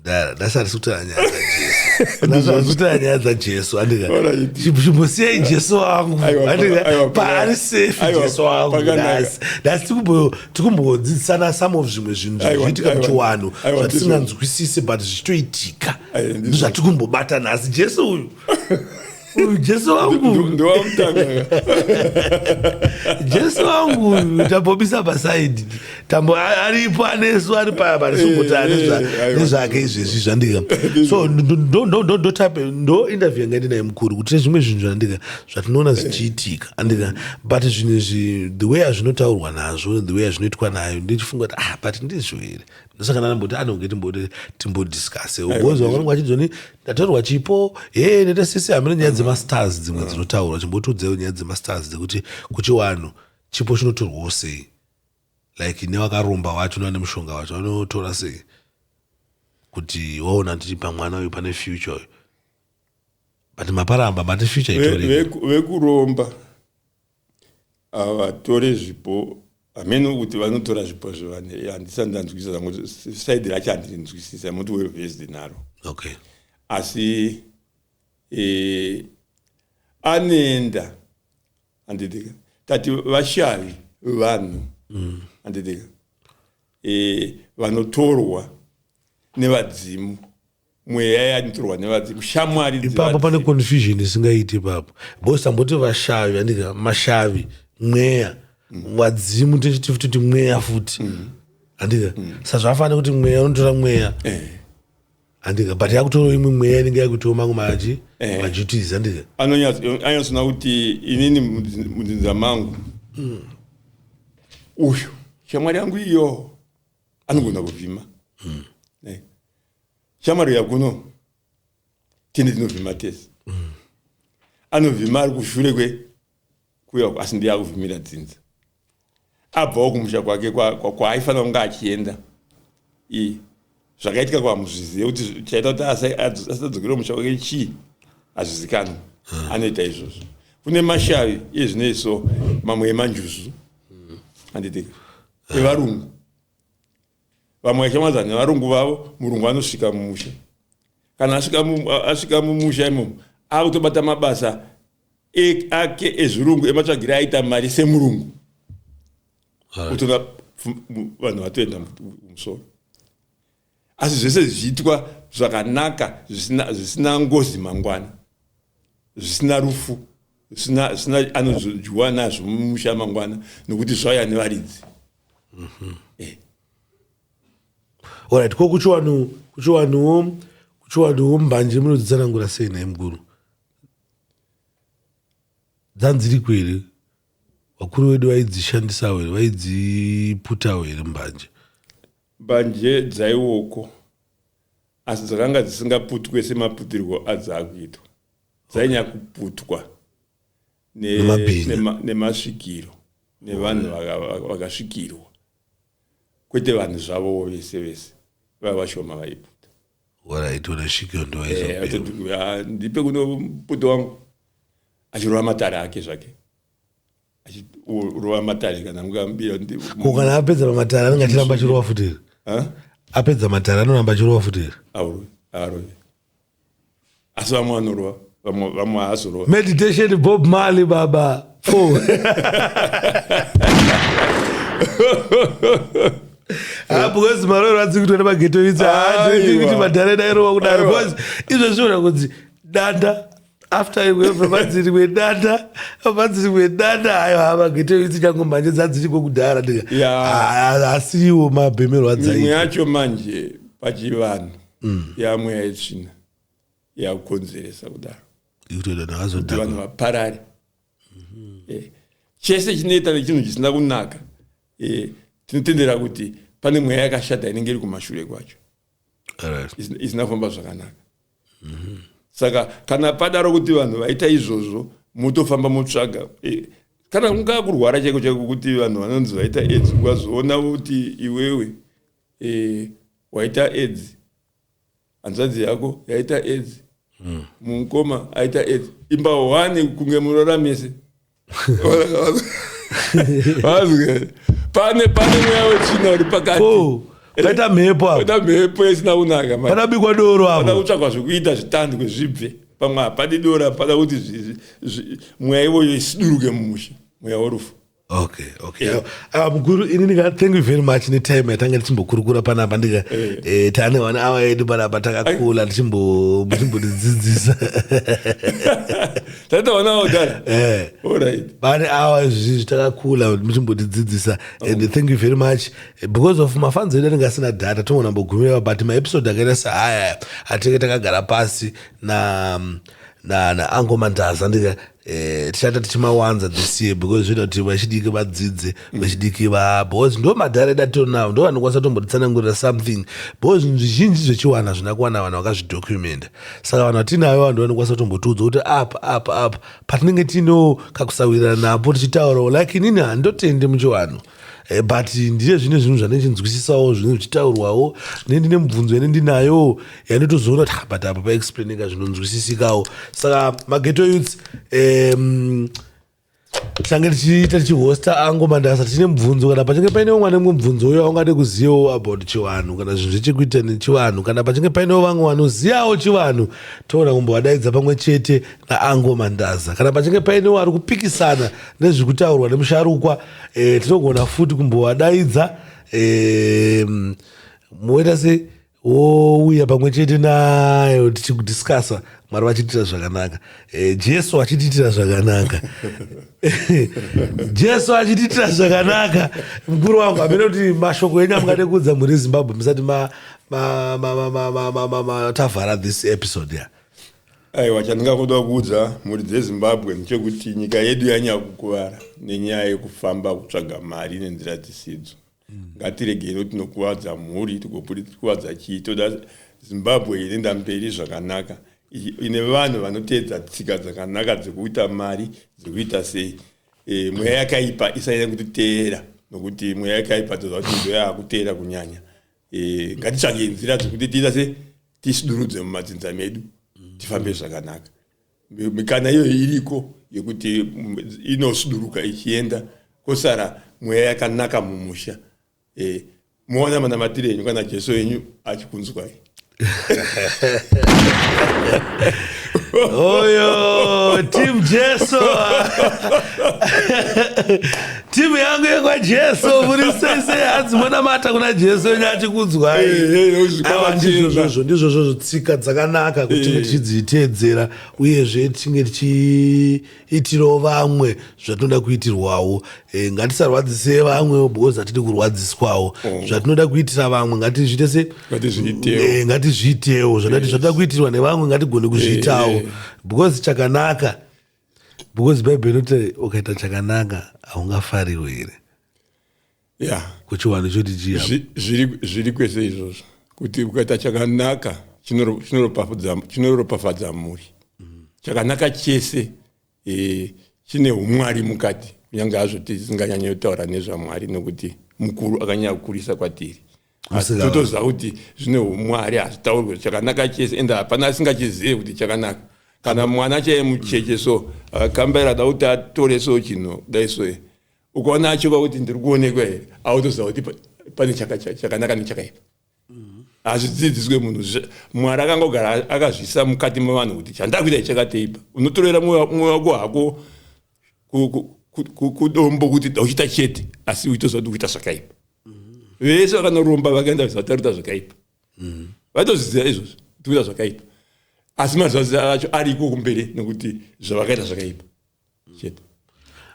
mdara ndasati sikutora nyaya dzajesu ndasati sikutora nyaya dzajesu andika Alright. chimbo- chimbosiyai jesu wangu Aiwa, pa- andika aiwa, pa- paari safe aiwa, jesu wangu pakanaka. nhasi nhasi tikumbo- tikumbodzidzisana some of zvimwe zvinhu Aiwa, zvinoitika aiwa, muchiwanhu aiwa, zvatisinganzwisise but zvichitoitika Aiwa, ndizvo. ndizvatikumbobata nhasi jesu uyu uyu jesu wangu Ndo- ndowamutanga jesu wangu uyu tambomisa pasaidi tambo a- aripo anesu ari paya parisumbuta Eh, eh, aiwa. nezvake izvezvi zvandika so ndo- ndo- ndo- ndo- ndotape- ndo interview yanga ndinaye mukuru kuti nezvimwe zvinhu zvandika zvatinoona zvichiitika andika but zvinhu izvi the way azvinotaurwa nazvo the way azvinoitwa nayo ndichifunga kuti ah but ndizvo here ndosaka ndanamboti anonge timbode timbodiscase ugozi wakanonga achizoni ndatorwa chipo hee nete sisi hamene nyaya dzemastars dzimwe dzinotaurwa chimbotiudzewo nyaya dzemastars dzekuti kuchiwanhu chipo chinotorwawo sei like newakaromba wacho nane mushonga wacho vanotora sei kuti waona kuti pamwana uyu pane future uyu but maparamba mati future itori vekuromba ve, ve avatore zvipo hameno kuti vanotora zvipo zvevane handisa ndanzwisisa zangu saidi racho handinzwisisi amoti well vesed naro okay asi e, anoenda handidika tati vashavi vanhu mm. handidika mm. e, vanotorwa nevadzimu mweya yanitorwa nevadzimu shamwari ipapo pane confusion isingaiti ipapo bcause tamboti vashavi andika mashavi mweya mm. vadzimu tichiti futi kuti mweya futi mm. andika mm. sazvafanira kuti mweya unotora mweya eh. andika but yakutorawo imwe mweya inenge yakuitawo mangu maji eh. majutis andika anonyatsoona kuti inini mudzinza mangu mm. uyu shamwari yangu iyo anogona kuvhima mm. shamwari uya kuno tine tinovhima tese mm. anovhima ari kushure kwe kuya uko asi ndiye akuvhimira dzinza abvawo kumusha kwake kwaaifanira kunge achienda i zvakaitika kwamuzvizive kuti chaita kuti asadzokere musha wake chii hazvizikanwa hmm. anoita izvozvo kune mashavi ezvinei so mamwe emanjuzu handitika evarungu vamwe vaishamwadzana nevarungu vavo murungu anosvika mumusha kana asvika mumusha imomo akutobata mabasa e, ake ezvirungu ematsvagiri aita mari semurungu utoona vanhu vatoenda musoro asi zvese zvichiitwa zvakanaka zvisina ngozi mangwana zvisina rufu zvisina zvisina anozodyiwa nazvo mumusha mangwana nokuti zvauya nevaridzi mm -hmm. eh. orit ko kuchiwanu kuchiwanuwo kuchiwanuwo mbanje munodzitsanangura sei naye mukuru dzanziriko here vakuru vedu vaidzishandisawo here vaidziputawo here mbanje mbanje dzaiwoko Asi dzakanga dzisingaputwe semaputirwo adzakuitwa. Dzainyakuputwa nemasvikiro nevanhu vakasvikirwa kwete vanhu zvavowo vese vese vava vashoma vaiputa waraitora svikiro ndovaizondipe eh, kuno muputo wangu achirova matare ake zvake achirova matare kana mukamubira ko kana apedza pamatare anenge achiramba achirova futi here apedza matare anoramba achirova futi here aurove aarove asi vamwe vanorova vamwe haazorova meditation bob mali baba four ah, because maroro adzi kuto nemageto itsi haadii kuti madhare dairova kudaro because izvo zviona kunzi danda after iwewe vanzi rimwe danda vanzi rimwe danda ayo havagete isi chango manje dzadziriko kudhara ndika ah, asiwo mabhemero adzaimwe yacho manje pachivanhu mm. yamwe yaitsvina yakukonzeresa kudaro kuti vanhu vaparare mhm. eh, chese chinoita nechinhu chisina kunaka eh, tinotendera kuti pane mweya yakashata inenge iri kumashure kwacho isinafamba zvakanaka mm-hmm. saka kana padaro kuti vanhu vaita izvozvo motofamba motsvaga eh, kana kungaa kurwara chaiko chaiko kuti vanhu vanonzi vaita aids ukazoona kuti iwewe eh, waita aids hanzvadzi yako yaita aids mm. mukoma aita aids imba hwani kunge murora mese pane pane mweya wetsvina uri pakati paita mhepo apaita mhepo isina kunaka panabikwa doro apo pada kutsvagwa zvekuita zvitandi kwezvibve pamwe hapadi doro apada kuti mweya ivoyo isiduruke mumusha mweya worufu okay okay yeah. uh, mukuru ini ndika thank you very much netime yatanga tichimbokurukura panapa ndika yeah. eh, tane one hour yedu panapa takakula tichimbotidzidzisa tatawanawo dala eh. vane awa izvizvi takakula muchimbotidzidzisa and thank you very much because of mafanzi edu anenge asina data tongo nambogumireva but maepisode akaita seaya atinenge takagara pasi na na na ango mandaza ndika eh, tichata tichimawanza this year because zvinoita kuti vachidiki vadzidze vechidiki vaa because ndo madhara datinawo ndo vanokwanisa tombotitsanangurira something because zvinhu zvizhinji zvechiwana zvina kuwana vanhu vakazvidhocumenta saka vanhu vatinayo vanhu vanokwanisa tombotiudza kuti apa apa apa patinenge tinewo kakusawirirana napo tichitaurawo like inini handotende muchiwanhu eh, but ndine zvine zvinhu zvanechinzwisisawo zvinenge zvichitaurwawo ne ndine mubvunzo yane ndinayo yanditozoona kuti ah, but apa paexplaineka zvinonzwisisikawo saka mageto youths um, tichange tichiita tichihosta ango mandasa tichine mubvunzo kana pachinge paine umwe ane mumwe mubvunzo uyo aungade kuzivawo about chivanhu kana zvinhu zvechekuita nechivanhu kana pachinge painewo vamwe vanozivawo chivanhu toona kumbovadaidza pamwe chete naango mandaza kana pachinge painewo ari kupikisana nezviri kutaurwa nemusharukwa e, tinogona futi kumbovadaidza e, moita sei wouya pamwe chete nayo tichikudiscasa mwari vachitiitira zvakanaka eh, jesu achitiitira zvakanaka jesu achitiitira zvakanaka mukuru wangu hamene kuti mashoko enyu amungade kuudza mhuri yezimbabwe musati matavhara this episode ya aiwa chandingakuda kuudza mhuri dzezimbabwe ndechekuti nyika yedu yanyakukuvara nenyaya yekufamba kutsvaga mari nenzira dzisidzo ngatiregerewo tinokuvadza mhuri tikuvadza chii toda zimbabwe inoenda mberi zvakanaka ine vanhu vanoteedza tsika dzakanaka dzekuita mari dzekuita sei e, mweya yakaipa isanyanya kutiteera nokuti mweya yakaipa toziva kuti ndo yaakuteera kunyanya e, ngatitsvage nzira dzekuti tiita se tisidurudze mumadzinza medu tifambe zvakanaka mikana iyoyo iriko yekuti mm, inosuduruka ichienda kosara mweya yakanaka mumusha e, moona manamatire enyu kana jesu enyu achikunzwai oyo tim jesu timu yangu yekwajesu muri sese hanzi monamata kuna jesu wenyu achikudzwai ndizvozvozvo ndizvozvozvo tsika dzakanaka kuti tinge tichidziteedzera uyezve tinge tichiitirawo vamwe zvatinoda kuitirwawo e, ngatisarwadzise vamwe because hatidi kurwadziswawo oh. zvatinoda kuitira vamwe ngatizviite se e, ngatizviitewo zvatoda kuitirwa nevamwe ngatigone kuzviitawo because chakanaka because bhaibheri inoti ukaita chakanaka haungafarirwo here ya kuchiwani choti chiya Zvi- zviri zviri kwese izvozvo kuti ukaita chakanaka chinoro- chinoropafudza- chinoropafadza mhuri chakanaka chese eh, chine umwari mukati kunyange hazvo tisinganyanyotaura nezvamwari nekuti mukuru akanyanya kukurisa kwatiri totoziva kuti zvine umwari hazvitaurwe chakanaka chese ende hapana asingachizive kuti chakanaka kana mwana chaiye mucheche so akambaira uh, da kuti atore so chino dai so ukaona achoka kuti ndiri kuonekwa here autoziva kuti pane chakanaka nechakaipa hazvidzidziswe munhu mwari akangogara akazvisa mukati mevanhu kuti chandakuita chakateipa unotorera mwoyo wako hako kudombo kuti dauchita chete asi uitoziva kuti kuita zvakaipa vese vakanoromba vakaenda vataruta zvakaipa vatozviziva izvozvo tikuita zvakaipa asi mazazi acho ariko kumberi nekuti zvavakaita zvakaipa chete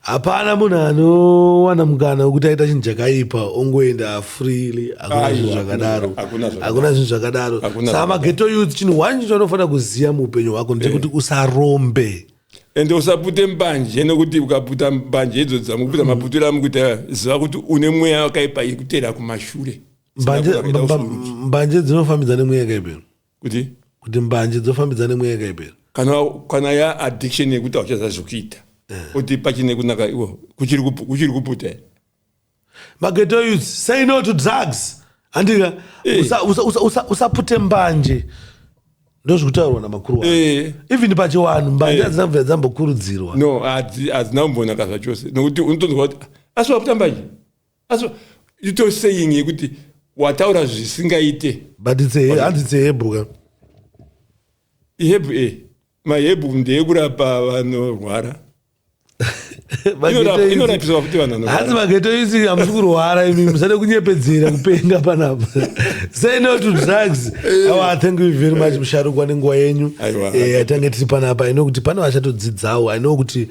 hapana munhu anowana mukana wekuti aita chinhu chakaipa ongoenda freely hakuna zvinhu zvakadaro hakuna zvinhu zvakadaro saka mageto youth chinhu one chinofanira kuziva muupenyu hwako ndechekuti eh. usarombe ende usapute mbanje nekuti ukaputa mbanje idzo dzamukuputa maputiro amukuita ziva kuti une mweya wakaipa ikutera kumashure mbanje dzinofambidza nemweya yakaipa kuti kuti mbanje dzofambidza nemweya yakaipa kana kana ya addiction yekuti auchaza zvekuita eh. kuti pachine kunaka iwo kuchiri kuputa Mageto youth, say no to drugs. Handika, hey. Eh. usapute usa, usa, usa mbanje. ndozvikutaurwa namakuru wa eh. even pachiwanhu mbanje eh. hadzina kubva dzambokurudzirwa no hadzina kumbonaka zvachose nokuti unotonzwa kuti asi wakuta mbanje asi ito saying yekuti wataura zvisingaite but hanzi it's ahebhu ka ihebhu e mahebhu ndeyekurapa vanorwara hanzi mageto yusi hamusi kurwara imi musade kunyepedzera kupenga panapa say no to drugs eh. awa oh, thank you very much eh. musharukwa nenguva yenyu eh, atange tiri panapa ino kuti pane vachatodzidzawo aino kuti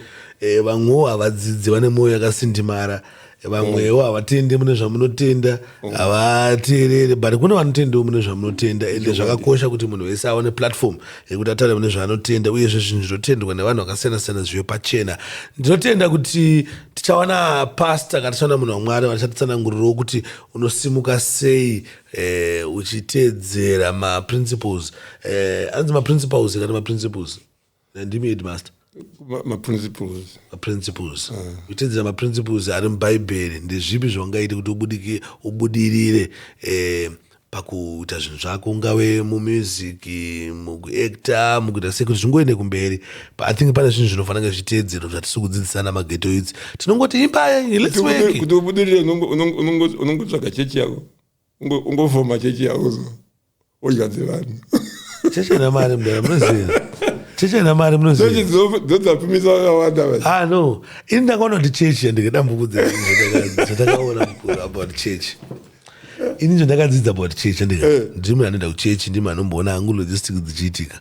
vamwewo havadzidzi vane mwoyo yakasindimara vamwewo havatende mune zvamunotenda mm. havateerere but kune vanotendewo mune zvamunotenda ende zvakakosha kuti munhu wese aone platform yekuti atare mune zvaanotenda uyezve zvinhu zvinotendwa nevanhu vakasiyana siyana zvive pachena ndinotenda kuti tichawana pasta kana tichawana munhu wamwari vachatitsanangurirawo kuti unosimuka sei eh, uchiteedzera maprinciples eh, anzi maprinciples kana maprinciples eh, nandimi headmaster maprinciples maprinciples kuteedzera ah. maprinciples ari mubhaibheri ndezvipi zvaungaite kuti ubudike ubudirire eh, pakuita zvinhu zvako ungave mumusic mukuacta mukuita sei kuti zvingoende kumberi but i think pane zvinhu zvinofanira zviteedzero zvatisi kudzidzisana mageto idzi tinongoti imbayekuti ubudirire unongotsvaga chechi yako ungofoma chechi yauzo odya dzevanhu chechi ina mari mdara munoziva chechi ina mari munoziva dzodzapfumisa vakawanda va ah no ini ndakaona kuti chechi yandike dambuko dzatakaona mukuru about chechi ini nzvo ndakadzidza about chechi andika eh. ndimi anoenda kuchechi ndimi anomboona hangu logistic dzichiitika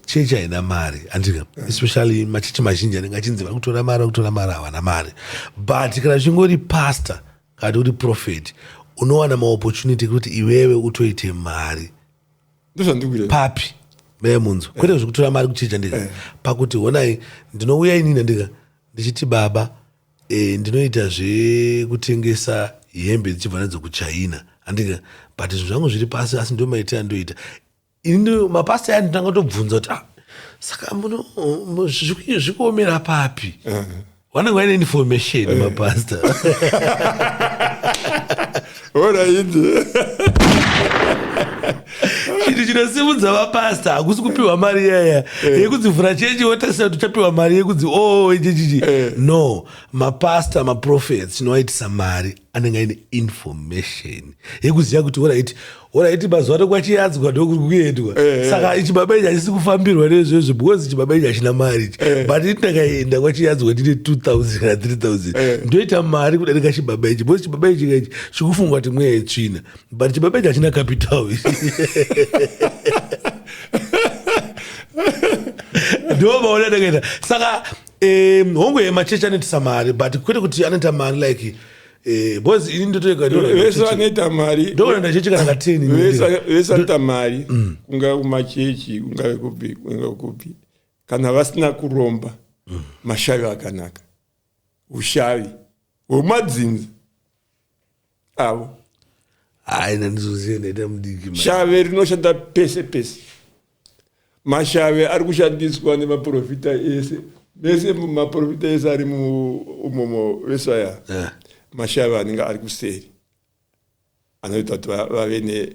chechi haina mari andika eh. especially machechi mazhinji anenge achinzi vari kutora mari vari kutora mari havana mari but kana zvingori pastor Kati uri prophet unowana maopportunity kuti iwewe utoite mari papi meye munzwa kwete eh. zvekutora mari kuchija ndika eh. pakuti honai ndinouya inini ndika ndichiti baba e, ndinoita zvekutengesa hembe dzichibva nadzo kuchina andika but zvinhu zvangu zviri pasi asi ndomaitira ndoita Ini mapasta aya ndinanga tobvunza kuti ah, saka muno zvikuomera papi vanenge vaine information eh. mapasta oraiti chinhu chinosimudza vapasta hakusi kupiwa mari yaya eh. yekudzivhura chechi wotarisira kuti uchapiwa mari yekudzi o oh, ichichichi eh. no mapasta maprofets tinovaitisa mari anenge aine information yekuziva kuti orit orit mazuva ano kwachiyadzwa ndokuri kuendwa eh, eh. saka chibaba ichi hachisi kufambirwa nezvezvo because chibaba ichi hachina mari ichi eh. but ini ndakaenda kwachiyadzwa ndine 2000 kana 3000 ndoita mari kudarika chibaba ichi because chibaba ichi kaichi chikufungwa kuti mweya yetsvina but chibaba ichi hachina capital ndomaona ndakaita saka Eh, hongu ye machechi anoitisa mari but kwete kuti anoita mari like eh, boys ini ndotoega vese vanoita mari ndokuenda chechi kana kateni vese anoita mari mm. kungave kumachechi kungave kupi kungave kupi kana vasina kuromba mm. mashavi akanaka ushavi hwemadzinza avo haina ndizoziva ndaita mudiki shave rinoshanda pese pese mashave ari kushandiswa nemaprofita ese mese maprofita ese ari muumomo vesaya yeah. mashave anenge ari kuseri anoita kuti vave ne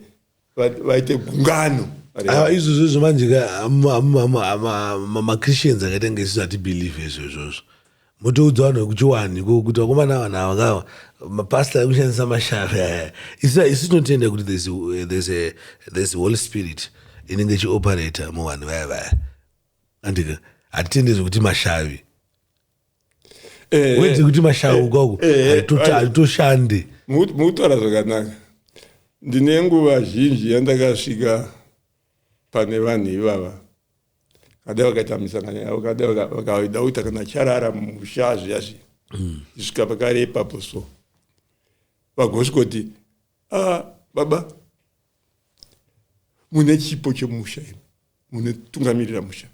vaite gungano ah, izvozvo izvo manje machristians akaita kunge isisu hatibelieve izvo izvozvo motoudza vanhu vekuchiwani kuti vakomana ava nava ngava mapasta ekushandisa mashave aya isu tinotenda kuti there's holy spirit inenge ichioperator muvanhu vaya vaya andika hatitende zvekuti mashavi Eh, eh. wedze kuti mashauka uko Eh, eh, haitocha- right. haitoshande Mu- mutaura zvakanaka ndine nguva zhinji yandakasvika pane vanhu ivava kada vakaita misangano yavo kada vaka- vakaida kuita kana charara mumusha zviya zviya isvika pakare ipapo so vagosvikoti ah, baba mune chipo chemusha imi munotungamirira musha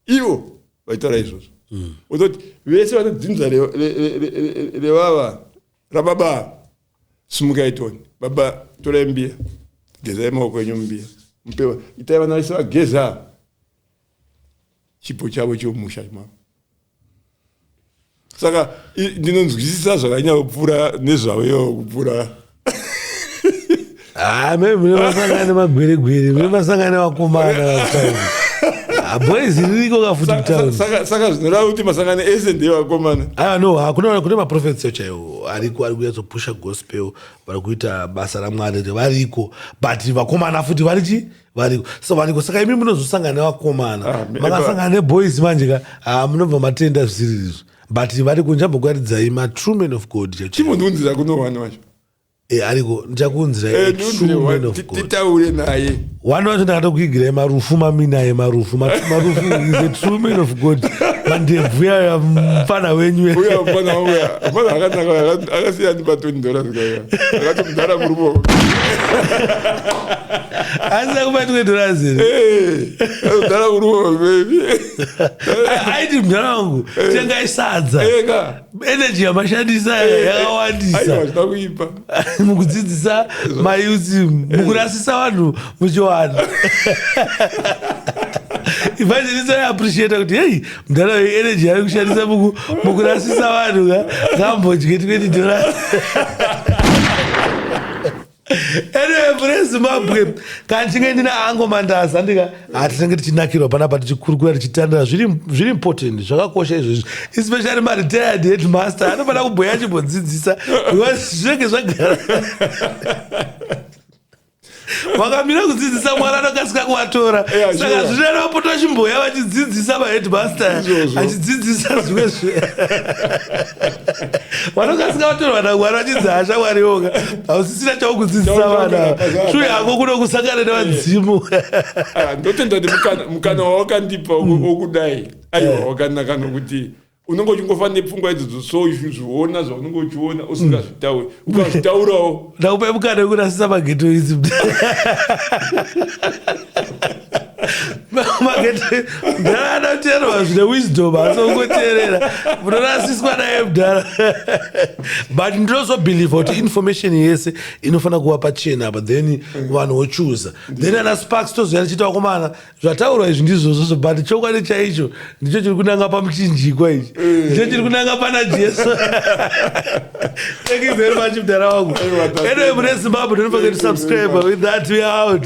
ivo vaitaura izvozvo mm. uzoti vese vanodzinza revava rababa sumukai toni baba torai mbiya gezai maoko enyu mbiya mupewa itai vana vese vageza chipo chavo chomusha mavo saka ndinonzwisisa zvakanyaopfuura nezvavo ivo kupfuura ah, mei mune vasangana nemagweregwere mune vasangana nevakomana vasaii ah, boys ririko kafuti kutaunsaka zvinorava kuti masangano ese ndeevakomana aa ah, no hakuna kune maprofetso chaiwo ariko ari kuyatsopusha gospel vari kuita basa ramwari revariko but vakomana futi vari chii variko so variko saka imi munozosangana nevakomana ah, makasangana neboys manje ka ah, munobva matenda zvisirizvo but variko ndichambokuatidzai matrue man of god chimoniunzira kunowani wacho e eh, ariko ndichakunziraititaure eh, naye wani wacho ndakatokuigirai marufu maminaye marufu marufu is a true man of god mandebvu yaya mfana wenyu akasiyani patoni dola zikaya akatomudhara murumo asi akubatwe dorazere kudhara eh, kurova bebi aiti mudhara wangu eh. tengai sadza energy yamashandisa yakawandisa mukudzidzisa mayuti mukurasisa vanhu muchiwana evangelist aiappreciate kuti hei mudhara wei energy yave kushandisa mukurasisa vanhu ka ngambodye 20 dollars anyway mune zimbabwe kana ndichinge ndina ango mandaza ndika hatinenge ah, tichinakirwa panapa tichikurukura tichitandira zviri important zvakakosha izvozvi especially maretired headmaster anofanira kubhoya achimbodzidzisa because zvinenge zvagara vakamira kudzidzisa mwana anokasika kuvatora saka zvinana vapota vachimboya vachidzidzisa maheadmaster achidzidzisa zvimwe zve vanokasika vatorwa namwana vachidzi hasha mwari yoga hausisina chaukudzidzisa vana shuya yako kuno kusangana nevadzimu ah, ndotenda kuti mukana wawakandipa wokudai mm. aiwa eh. wakanaka nokuti unenge uchingofa nepfungwa idzodzo so zviona zvaunenge uchiona usingazvitauri mm. ukazvitaurawo ndakupe mukana wekurasisa mageto idzi mdara ada kuteererwa zvine wisdom asi ungoteerera munorasiswa naye mdara but ndinozobhelieve kuti information yese inofanira kuva pachena apa then vanhu vochuza then ana sparks tozouya tichiita vakomana zvataurwa izvi ndizvozvozvo but chokwadi chaicho ndicho chiri kunanga pamuchinjikwa ichi eh. ndicho chiri kunanga pana jesu thank you very much mdara wangu anyway mune zimbabwe don't forget to subscribe with that we out